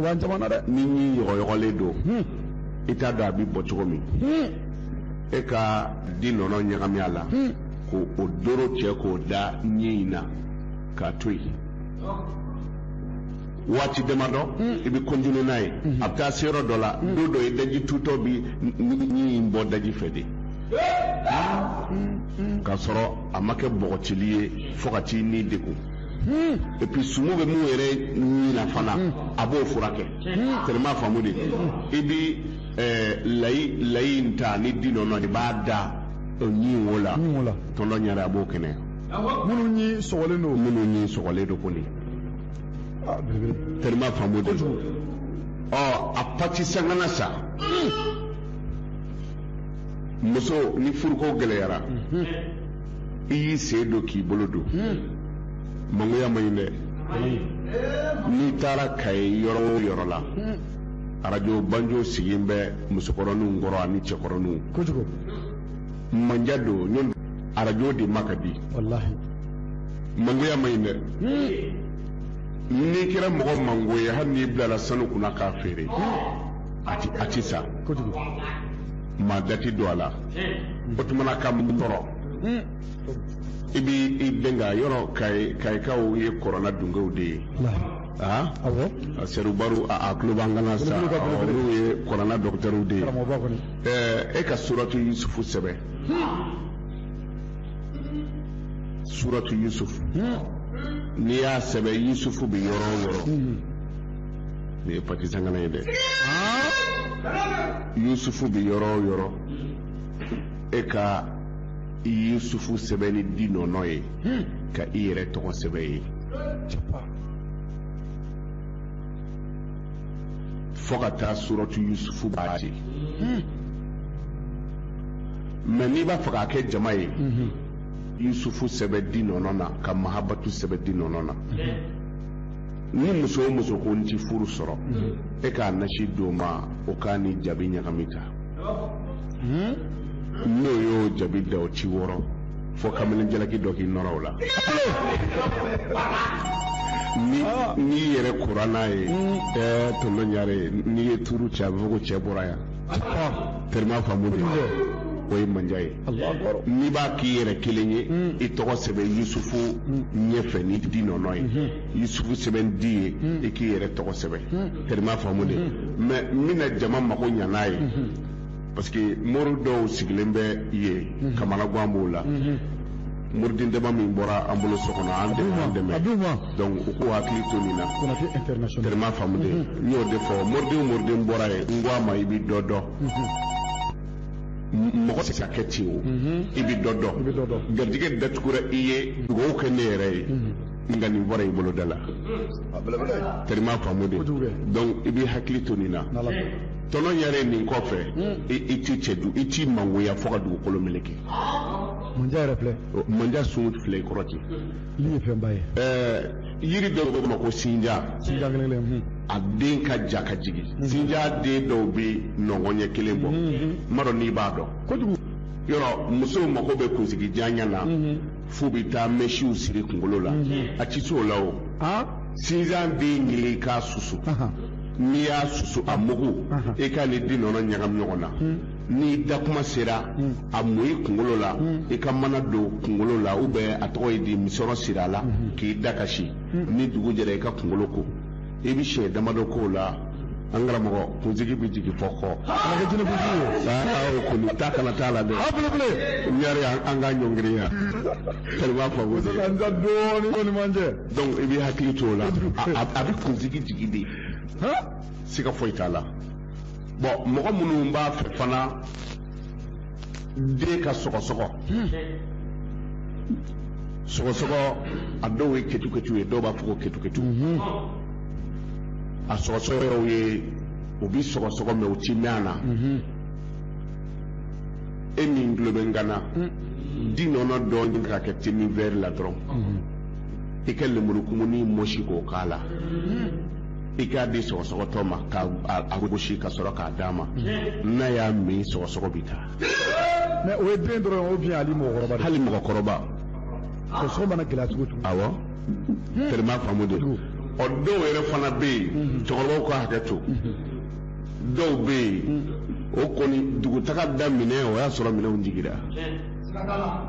S2: wa jamana
S1: dɛ ni ɲin yɔgɔyɔgɔlen
S2: don hmm. i t'a dɔn a bɛ bɔ cogo min hmm. e ka di nɔnɔ ɲagami a la hmm. ko o doro cɛ k'o da ɲin in na k'a to yen waati damadɔ i bɛ kɔntine n'a ye a bɛ taa se yɔrɔ dɔ la don dɔ i daji tutɔ bi ɲin in bɔ daji fɛ de k'a sɔrɔ a ma kɛ bɔgɔcili ye fo ka t'i ni degun et puis sumu bɛ mun yɛrɛ ɲin na fana a b'o furakɛ tellement faamu de i bi layi layi in ta ni di nɔnɔ de b'a da ɲin wo la tɔnɔ ɲɛra a b'o kɛnɛ minnu
S1: ɲin minnu ɲin sɔgɔlen don
S2: kɔni tellement faamu de don ɔ a pati sangana sa muso ni furuko gɛlɛyara i y'i sen don k'i bolo don mangoya man ɲi dɛ n'i taara kayi yɔrɔ o yɔrɔ la arajo banjo sigilen bɛ musokɔrɔninw kɔrɔ ani cɛkɔrɔninw kojugu manja don ɲɔn arajo de ma ka di
S1: walahi mangoya
S2: man ɲi dɛ n'i kɛra mɔgɔ mango ye hali n'i bilala sanu kunna k'a feere a ti san
S1: kojugu
S2: maa da ti don a la o tumana ka mun tɔrɔ i bi i bɛn ka yɔrɔ kayi kayikaw ye kɔrɔna dunkew de ye aa awɔ
S1: a sɛrubaru
S2: a a tulo b'an kan na sa Olu ka belebele. olu ye kɔrɔna dɔgɔtɛriw de ye karamɔgɔba kɔni ɛɛ e ka suratu yusufu sɛbɛn suratu yusufu n'i y'a sɛbɛn yusufu bɛ yɔrɔ o yɔrɔ nin ye patisankana ye dɛ yusufu bɛ yɔrɔ o yɔrɔ e ka yusufu sɛbɛn ni di nɔnɔ ye ka i yɛrɛ tɔgɔ sɛbɛn ye fo ka taa suratu yusufu b'a di mɛ n'i b'a fɛ k'a kɛ jama ye yusufu sɛbɛn di nɔnɔ na ka mahabatu sɛbɛn di nɔnɔ na ni muso o muso ko n ti furu sɔrɔ e k'a nasi d'o ma o k'a ni jabi ɲagami ta n'o y'o jabi da o ti wɔrɔ fo kamalen jalaki dɔ k'i nɔrɔ o la ni n'i yɛrɛ kora n'a ye ɛɛ tonton ɲare n'i ye tuuru cɛ a bɛ fɔ ko cɛ bɔra yan terima faamu dɛ o ye manja ye n'i b'a k'i yɛrɛ kelen ye i tɔgɔ sɛbɛn yusufu ɲɛfɛ ni di nɔnɔ ye yusufu sɛbɛn ni di ye i k'i yɛrɛ tɔgɔ sɛbɛn terima faamu dɛ mais n bɛna jama mago ɲa n'a ye parce que mori dɔw sigilen bɛ yen kamanagan b'o la moriden dama min bɔra an bolo so kɔnɔ an dɛmɛ an dɛmɛ donc u k'u hakili to nin na terima faamu dɛ n y'o de fɔ moriden moriden bɔra ye n ko a ma i bɛ dɔ dɔn mɔgɔ tɛ se ka kɛ ten o i bɛ dɔ dɔn garijɛgɛ datugura i ye dugawu kɛ ne yɛrɛ ye nka nin bɔra i bolo da la terima faamu dɛ donc i bɛ hakili to nin na tonton ɲare nin kɔfɛ i t'i cɛ du i t'i mangoya fo ka dugukolo meleke manja
S1: yɛrɛ filɛ manja sun filɛ
S2: i kɔrɔ ten Nin ye fɛnba
S1: ye. Ɛɛ
S2: yiri dɔw bɛ ma ko sinjan. Sinjan kelen kelen
S1: hun. A den
S2: ka ja ka jigin. Sinjan den dɔw bɛ nɔngɔn ɲɛ kelen bɔ. N m'a dɔn n'i b'a dɔn. Kojugu. Yɔrɔ
S1: musow
S2: mako bɛ kunsigi janya na. F'u bɛ taa mɛsiw siri kunkolo la. A tɛ s'o la o. Aa! Sinjan den ɲini i k'a susu. N'i y'a susu a mugu. E k'a ni di nɔnɔ ɲagami ɲɔgɔn na. n'i da kuma sera hmm. a mu i kunkolo la hmm. i ka mana don kunkolo la ou bien a tɔgɔ ye di misɔrɔ siri a la hmm. k'i da ka si ni dugu jɛra i ka kunkolo ko i bɛ siɲɛ damadɔ k'o la an karamɔgɔ kunsigi bɛ jigin fo kɔ. kana kɛ jinɛ kunsigi ye. aa o kɔni ta kana t'a la dɛ. a belebele. n yɛrɛ an ka ɲɔngiri yan. kɛlɛ b'a fɔ ko. sisan n da dɔɔnin kɔni man jɛ. donc i bɛ hakili to o la a bɛ kunsigi jigin dɛ. siga foyi t'a la. bon mɔgɔ minnu b'a fɛ fana den ka sɔgɔsɔgɔ hmm. sɔgɔsɔgɔ a dɔw ye ketuketu ye dɔw b'a fɔ ko ketuketu hmm. a sɔgɔsɔgɔ yɔrɔw ye u bi sɔgɔsɔgɔ mɛ u ti mɛn a na hmm. e min tulo bɛ n kan na di nɔnɔ dɔ ɲini k'a kɛ demi vɛri la dɔrɔn i ka lemuru kumuni mɔsi k'o k'a la i k'a di sɔgɔsɔgɔtɔ ma k'a gosi ka sɔrɔ k'a d'a ma n'a y'a min sɔgɔsɔgɔ bɛ taa mais o ye
S1: den dɔrɔn ou bien hali mɔgɔkɔrɔba hali mɔgɔkɔrɔba sɔgɔsɔgɔ mana gɛlɛya cogo cogo awɔ
S2: tɛrɛ m'a faamu de ɔ dɔw yɛrɛ fana bɛ yen cɛkɔrɔbaw ka hakɛ to dɔw bɛ yen o kɔni dugutaga daminɛ o y'a sɔrɔ minɛnw jigira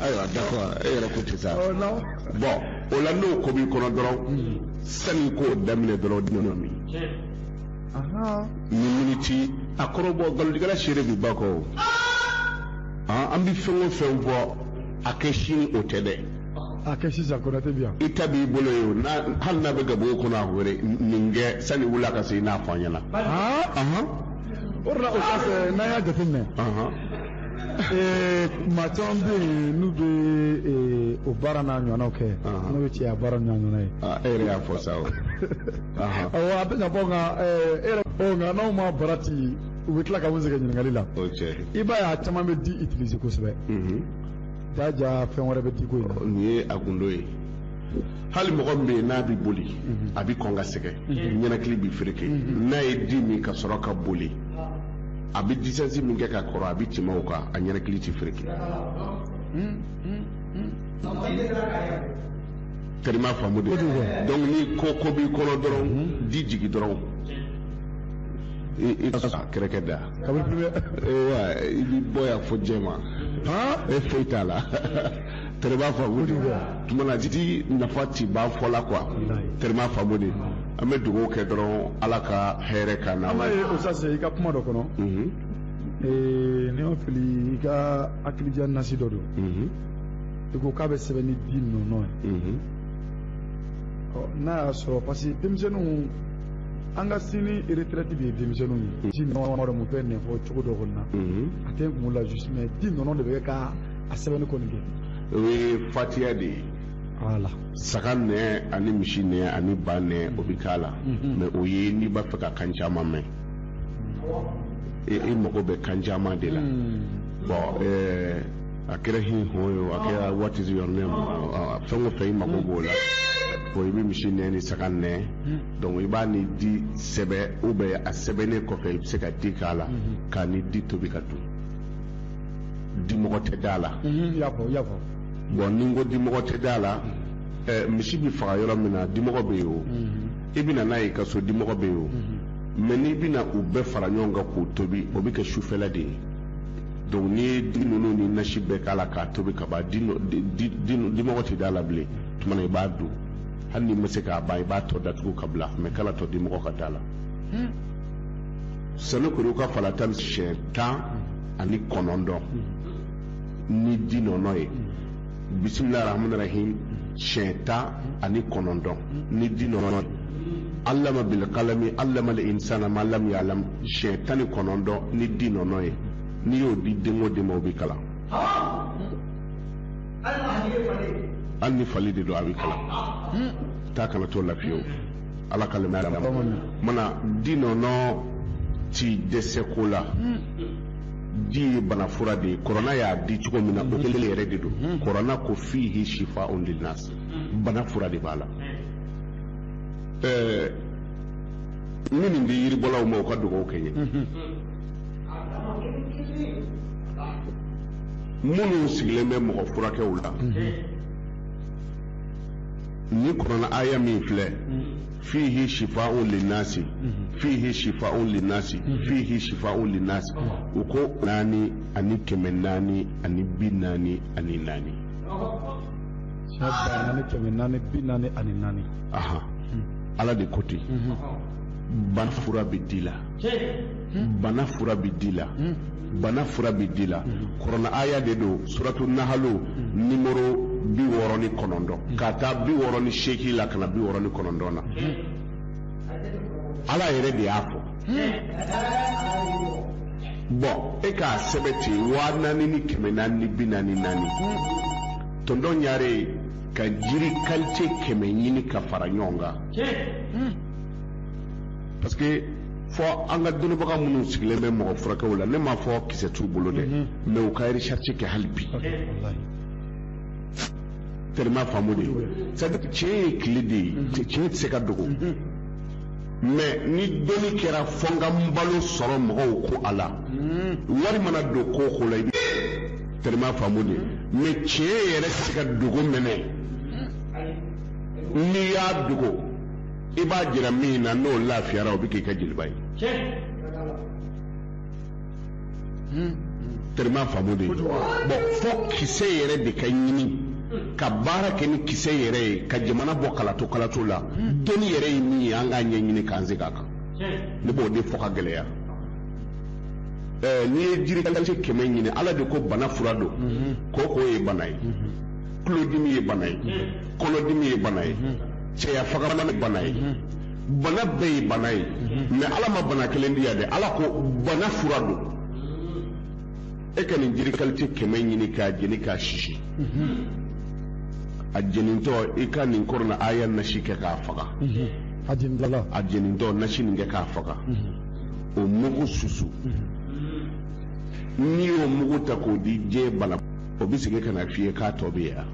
S2: ayiwa d'accord e yɛrɛ ko ten sa ɔ non bon o la n'o ko b'i kɔnɔ dɔrɔn sani k'o daminɛ dɔrɔn dinin min ahan ni miniti a kɔrɔbɔ nkalontigɛla seere bi ba kɔ o Han, an bɛ fɛn o fɛn fɔ a kɛ sini o tɛ dɛ a kɛ
S1: sisan konate bi yan i ta b'i bolo ye
S2: o n'a hali n'a bɛ gabugu kɔnɔ a wele nin kɛ sani wula ka se i n'a fɔ an ɲɛna han Ahan,
S1: o de la o kɔfɛ n'an y'a jateminɛ ahan. ee maa caman bɛ yen n'u bɛ ee, o baara n'a ɲɔgɔnnaw kɛ Ahan. n'o ye cɛya baara n'a ɲɔgɔnna ye Ah, e yɛrɛ y'a fɔ sa o
S2: Ahan. awɔ
S1: a bɛ ka bɔ nka ee,
S2: e yɛrɛ
S1: ɔ nka n'aw ma
S2: barati
S1: u bɛ tila ka maa sɛgɛn ɲininkali la o cɛ i b'a ye a caman bɛ di utiliser kosɛbɛ Mhm. jaja fɛn wɛrɛ bɛ di ko in na nin ye a gundo
S2: ye hali mɔgɔ min bɛ yen n'a bɛ boli a bɛ kɔn ka sɛgɛn ɲɛnakili bɛ fereke n'a ye di min ka sɔrɔ ka boli a bɛ distance min kɛ ka kɔrɔ a bɛ tɛmɛ o kan a ɲɛnakili tɛ fereke tɛrɛ m'a faamu de donc ni ko ko b'i kɔnɔ dɔrɔn di jigi dɔrɔn i ka so kɛrɛkɛ da kabiri i b'i bɔ yan fo jɛma e foyi t'a la tɛrɛ m'a faamu de tuma na di nafa ti ban fɔ la quoi tɛrɛ m'a faamu de an bɛ dugawu kɛ dɔrɔn ala ka hɛrɛ ka na ala ye o sase i ka
S1: kuma dɔ kɔnɔ ni ne ma fili i ka hakilidiya nasi dɔ don i ko k'a bɛ sɛbɛn ni di nɔnɔ ye n'a y'a sɔrɔ parce que denmisɛnninw an ka sini retraite de ye denmisɛnninw ye di nɔnɔ dɔ mun fɛn ɲɛfɔ cogo dɔ kɔni na a tɛ n kun la juste mais di nɔnɔ de bɛ kɛ ka a sɛbɛnni kɔni kɛ o ye
S2: fatiya de ye voilà
S1: saga
S2: nɛn ani misi nɛn ani ba nɛn o bɛ k'a la mhm. mais o ye n'i b'a fɛ ka kan caman mɛn e, e mago bɛ kan caman de la mhm. bon eh, a kɛra hin hɔn ye o a kɛra what is your name fɛn o fɛn i mago b'o la bon i bɛ misi nɛn ni saga nɛn mhm. donc i b'a ni di sɛbɛn ou bien a sɛbɛnnen kɔfɛ i bɛ se ka di k'a la k'a ni di tobi ka dun dimɔgɔ tɛ da
S1: la bɔn ni n
S2: ko dimɔgɔ tɛ da la misi bɛ faga yɔrɔ min na dimɔgɔ bɛ yen o i bɛna n'a ye i ka so dimɔgɔ bɛ yen o mɛ n'i bɛna u bɛɛ fara ɲɔgɔn kan k'u tobi o bɛ kɛ sufɛla de ye donc n'i ye di ninnu ni nasi bɛɛ k'a la k'a tobi ka ban dimɔgɔ tɛ da la bilen tuma i b'a dun hali n'i ma se k'a ban i b'a tɔ datugu k'a bila mɛ kan'a to dimɔgɔ ka da la sanukuruka falata siɲɛ tan ani kɔnɔntɔn ni di nɔnɔ ye bisimilahi rahmani rahim siɲɛ tan ani kɔnɔntɔn ni di nɔnɔ ye allama bilkalami allamal insana ma lam yalam siɲɛ tan ni kɔnɔntɔn ni di nɔnɔ ye n'i y'o di den o den ma o bɛ kalan hali ni fali de don a bɛ kalan ta kana t'o la fiyewu ala ka lemɛya d'a ma mana di nɔnɔ ti dɛsɛ ko la di ye bana fura de ye kɔrɔna y'a di cogo min na o kelen yɛrɛ de don kɔrɔna ko fihi shifaun linnas bana fura de b'a la ɛɛ n bɛ nin di yiribɔlaw ma u ka dugawu kɛ n ye minnu sigilen bɛ mɔgɔ furakɛw la ni kɔrɔna aya min filɛ fihi shifa'un linnasi fihi shifa'un linnasi fihi shifa'un linnasi u ko naani ani kɛmɛ naani ani bi naani ani naani naani kɛmɛ naani bi naani ani naani aha ala de ko ten bana fura bɛ di la bana fura bɛ di la bana fura bɛ di la kɔrɔna aya de don suratu nahalo nimoro bi wɔɔrɔ ni kɔnɔntɔn ka taa bi wɔɔrɔ ni seegin la ka na bi wɔɔrɔ ni kɔnɔntɔn na ala yɛrɛ de y'a fɔ bɔn e k'a sɛbɛn ten waa naani ni kɛmɛ naani ni bi naani naani tɔntɔn ɲare ka jiri kalite kɛmɛ ɲini ka fara ɲɔgɔn kan parce que fɔ an ka dɔnnibaga minnu sigilen bɛ mɔgɔ furakɛw la ne m'a fɔ kisɛ t'u bolo dɛ mhm. mɛ u ka recherche kɛ hali bi tellement faamu de c'est à dire tiɲɛ ye tile de ye tiɲɛ tɛ se ka dogo mhm. mɛ ni dɔnni kɛra fɔ n ka n balo sɔrɔ mɔgɔw ko a la mhm. wari mana don ko o ko la i bɛ tellement faamu de mɛ tiɲɛ yɛrɛ tɛ se ka dogo mɛnɛ n'i y'a dogo i b'a jira min na n'o lafiyara o bɛ k'i ka jeliba ye terima faamu dɛ bon fo kisɛ yɛrɛ de ka ɲini ka baara kɛ ni kisɛ yɛrɛ ye ka jamana bɔ kalato kalato la dɔnni yɛrɛ ye min ye an k'a ɲɛɲini k'an segin a kan ne b'o de fɔ ka gɛlɛya n'i ye jiri kalite kɛmɛ ɲini ala de ko bana fura don koko ye bana ye tulodimi ye bana ye kɔnɔdimi ye bana ye cɛya fagamana ye bana ye bana bɛɛ ye bana ye mɛ ala ma bana kelen di yan dɛ ala ko bana fura don e ka nin jiri kalite kɛmɛ ɲini k'a jeni k'a sisi a jenintɔ i ka nin kurana aya nasi kɛ k'a faga a jenintɔ nasi nin kɛ k'a faga o mugu susu n'i y'o mugu ta k'o di diɲɛ bana o bɛ segin ka na f'i ye k'a tɔ bɛ yan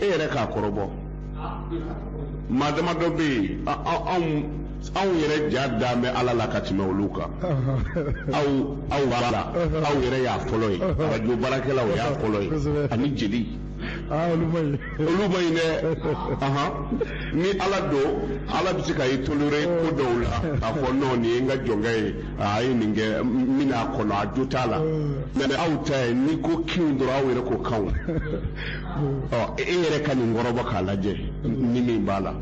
S2: e yɛrɛ k'a kɔrɔbɔ maa dama dɔ bɛ yen anw anw yɛrɛ ja dan bɛ ala la ka tɛmɛ olu kan aw aw b'a la aw yɛrɛ y'a fɔlɔ ye arajo baarakɛlaw y'a fɔlɔ ye ani jeli olu man ɲi dɛ ni ala don ala bɛ se ka i tolere ko dɔw la k'a fɔ nɔn nin ye n ka jɔnkɛ ye a ye nin kɛ n bɛna a kɔnɔ a jo t'a la mɛ aw ta ye n'i ko kinw dɔrɔn aw yɛrɛ ko kanw ɔ e yɛrɛ ka nin kɔrɔbɔ k'a lajɛ ni min b'a la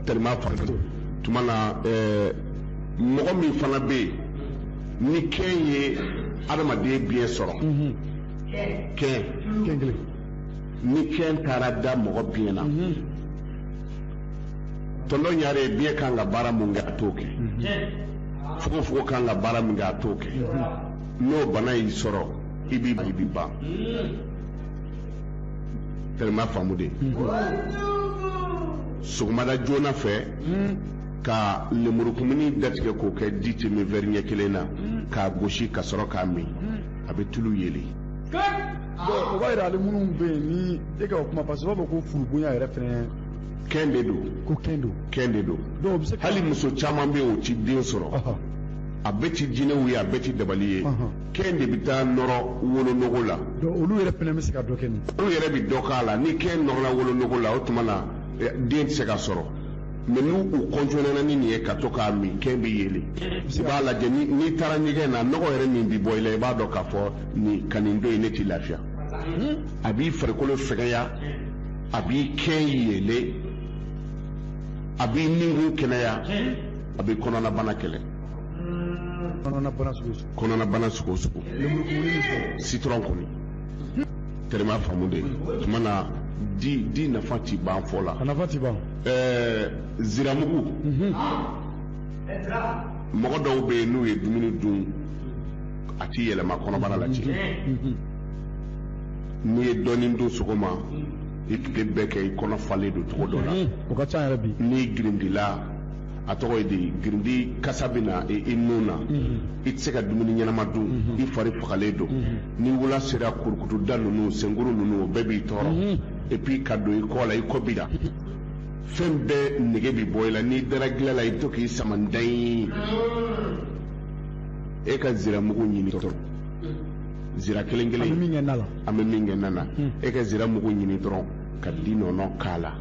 S2: tellement partout tuma na ɛɛ mɔgɔ min fana bɛ yen ni kɛn ye adamaden biɲɛ sɔrɔ kɛn ni kɛn taara da mɔgɔ biɲɛ na tɔntɔ ɲare ye biɲɛ kan ka baara min kɛ a t'o kɛ fogofogo kan ka baara min kɛ a t'o kɛ n'o bana y'i sɔrɔ i b'i i b'i ban terima faamu dɛ sɔgɔmada joona fɛ ka lemurukumuni datigɛ k'o kɛ di demi vɛri ɲɛ kelen na k'a gosi ka sɔrɔ k'a min a bɛ tulu yeli
S1: o b'a yira ale minnu bɛ yen ni e ka o kuma parce que u b'a fɔ ko furubonya yɛrɛ fɛnɛ kɛn de don
S2: ko kɛn don kɛn de
S1: don dɔw bɛ se hali muso
S2: caman bɛ yen o ti den sɔrɔ a bɛɛ ti jinɛw ye a bɛɛ ti dabali ye kɛn de bɛ taa nɔrɔ wolonogo la olu yɛrɛ fana bɛ se
S1: ka dɔ kɛ nin olu yɛrɛ bɛ dɔ k'a la
S2: ni kɛn nɔrɔla wolonogo la o tuma na eh, den tɛ se ka sɔrɔ mɛ n'u u kɔntɔnɛna ni nin ye ka to k'a min kɛn bɛ yeli i b'a lajɛ n'i taara ɲɛgɛn na nɔgɔ yɛrɛ min bɛ bɔ i la i b'a dɔn k'a fɔ nin ka nin don in ne t'i lafiya a b'i farikolo fɛgɛya a b'i kɛn yele a b'i ninkun kɛnɛya a bɛ kɔnɔnabana kɛlɛ kɔnɔnabana sugu o sugu sitɔrɔn kɔni terima faamu dɛ tumana di nafa ti ban fɔ la a nafa ti
S1: ban
S2: ɛɛ ziramugu mhm. mɔgɔ dɔw bɛ yen n'u ye dumuni dun a ti yɛlɛma kɔnɔbara la ci n'i ye dɔɔnin dun sɔgɔma i tile bɛɛ kɛ i kɔnɔ falen don cogo dɔ la o ka ca yɛrɛ bi
S1: n'i girindila
S2: a tɔgɔ ye di girindi kasa bɛ na i nun na i tɛ se ka dumuni ɲɛnama dun i fari fagalen don ni wula sera kurukutuda ninnu senkuru ninnu o bɛɛ b'i tɔɔrɔ et puis ka don i kɔ la i kɔ bi la fɛn bɛɛ nege bɛ bɔ i la n'i dara gilan la i bɛ to k'i sama ndan e ka zira mugu ɲini dɔrɔn zira kelen kelen an bɛ min kɛ na la an bɛ min kɛ na la hmm. e ka zira mugu ɲini dɔrɔn ka di nɔnɔ k'a la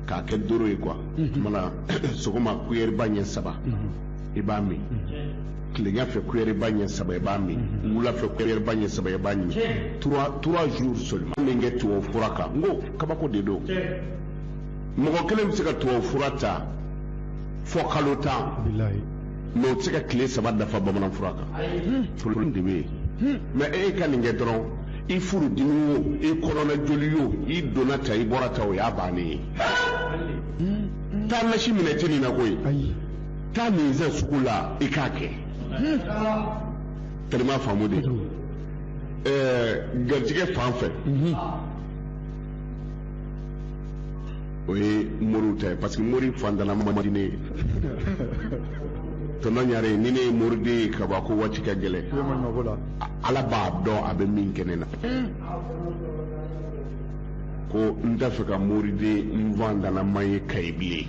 S2: k'a kɛ doro ye quoi hmm. tumana sɔgɔma kuyɛriba ɲɛ saba hmm. i b'a min tilenya fɛ kuyɛriba ɲɛ saba i b'a min wula fɛ kuyɛriba ɲɛ saba i b'a min trois trois jours seulement min kɛ tubabu fura kan n ko kabako de don mɔgɔ kelen bɛ se ka tubabu fura ta fɔ kalo tan mais o tɛ se ka tile saba dafa bamanan fura kan problème de bɛ yen mais e ka nin kɛ dɔrɔn i furu dimi o i kɔnɔna joli o i donna ta i bɔra ta o y'a bannen ye taa nasi minɛ tɛ nin na koyi taa nin san sugu la i k'a kɛ terima faamu dɛ ɛɛ garijɛgɛ fan fɛ o ye moriw ta ye parce que mori fantanama man di ne ye tɔnɔ ɲare ni ne ye moriden ye ka ban ko waati ka gɛlɛn ala b'a dɔn a bɛ min kɛ ne na ko n t'a fɛ ka moriden fantanama ye kayi bilen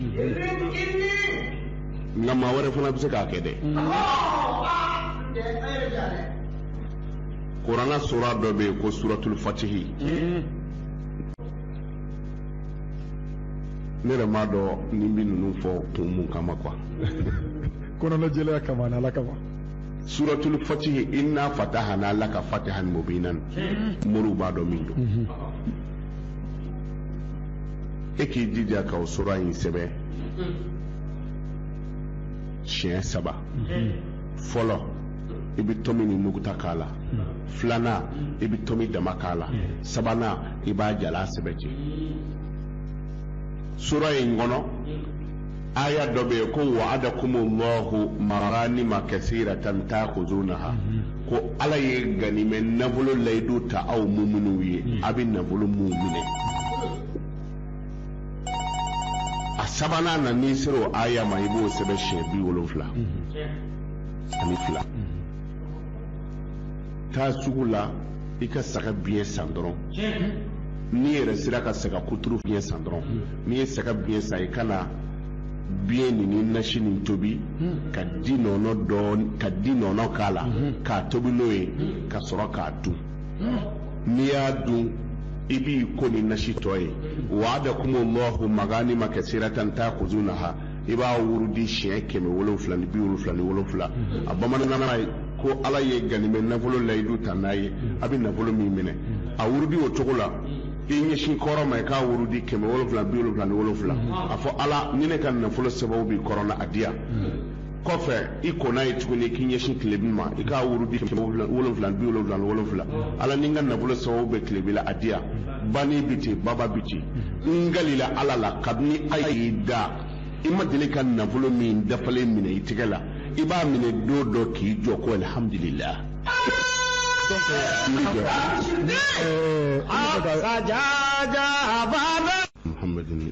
S2: nka maa wɛrɛ fana bɛ se k'a kɛ dɛ kurana sura dɔ bɛ yen ko suratul fatihi ne yɛrɛ m'a dɔn ne bɛ ninnu fɔ kun mun kama quoi
S1: kɔnɔnajɛlenya kama ani ala kama suratul
S2: fatihi inna fatahana laka fatihan mubinan moriw b'a dɔn min don e k'i jija ka o sura in sɛbɛn siɲɛ saba fɔlɔ i bɛ tomi ni nuguta k'a la filanan i bɛ tomi dama k'a la sabanan i b'a jalan sɛbɛn ten sura in kɔnɔ aya dɔ bɛ yen ko wa'adakum Allahu maganima kasiratan ta'khuzunaha ko ala ye ganimɛ nafolo layidu ta aw muminw ye a bɛ nafolo min minɛ a sabanan na n'i sera o aya ma i b'o sɛbɛn siɲɛ bi wolonfila ani fila taa sugu la i ka saga biɲɛ san dɔrɔn n'i yɛrɛ sera ka saga kuturu biɲɛ san dɔrɔn n'i ye saga biɲɛ san i ka na biɲɛ nin ni nasi nin tobi ka di nɔnɔ dɔɔni ka di nɔnɔ k'a la k'a tobi n'o ye ka sɔrɔ k'a dun n'i y'a dun i b'i ko ni nasi tɔ ye wa'adakum Allahu maganima kasiratan ta'khuzunaha i b'a wurudi siɲɛ kɛmɛ wolonfila ni bi wolonfila ni wolonfila a bamanankan ye ko ala ye ganimɛ nafolo layidu ta n'a ye a bɛ nafolo min minɛ a wurudi o cogo la i ɲɛsin kɔrɔn ma i k'a wurudi kɛmɛ wolonfila bi wolonfila ni wolonfila a fɔ ala ni ne ka nafolo sababu bɛ kɔrɔn na a di yan kɔfɛ i kɔnna ye tuguni k'i ɲɛsin tilebin ma i k'a wurudi kɛmɛ wolonfila bi wolonfila ni wolonfila ala ni n ka nafolo sababu bɛ tilebin na a di yan bani bɛ ten baba bɛ ten n kalila ala la kabini a y'i dan i ma deli ka nafolo min dafalen minɛ i tɛgɛ la i b'a minɛ don dɔ k'i jɔ ko alhamdulilah muhammadin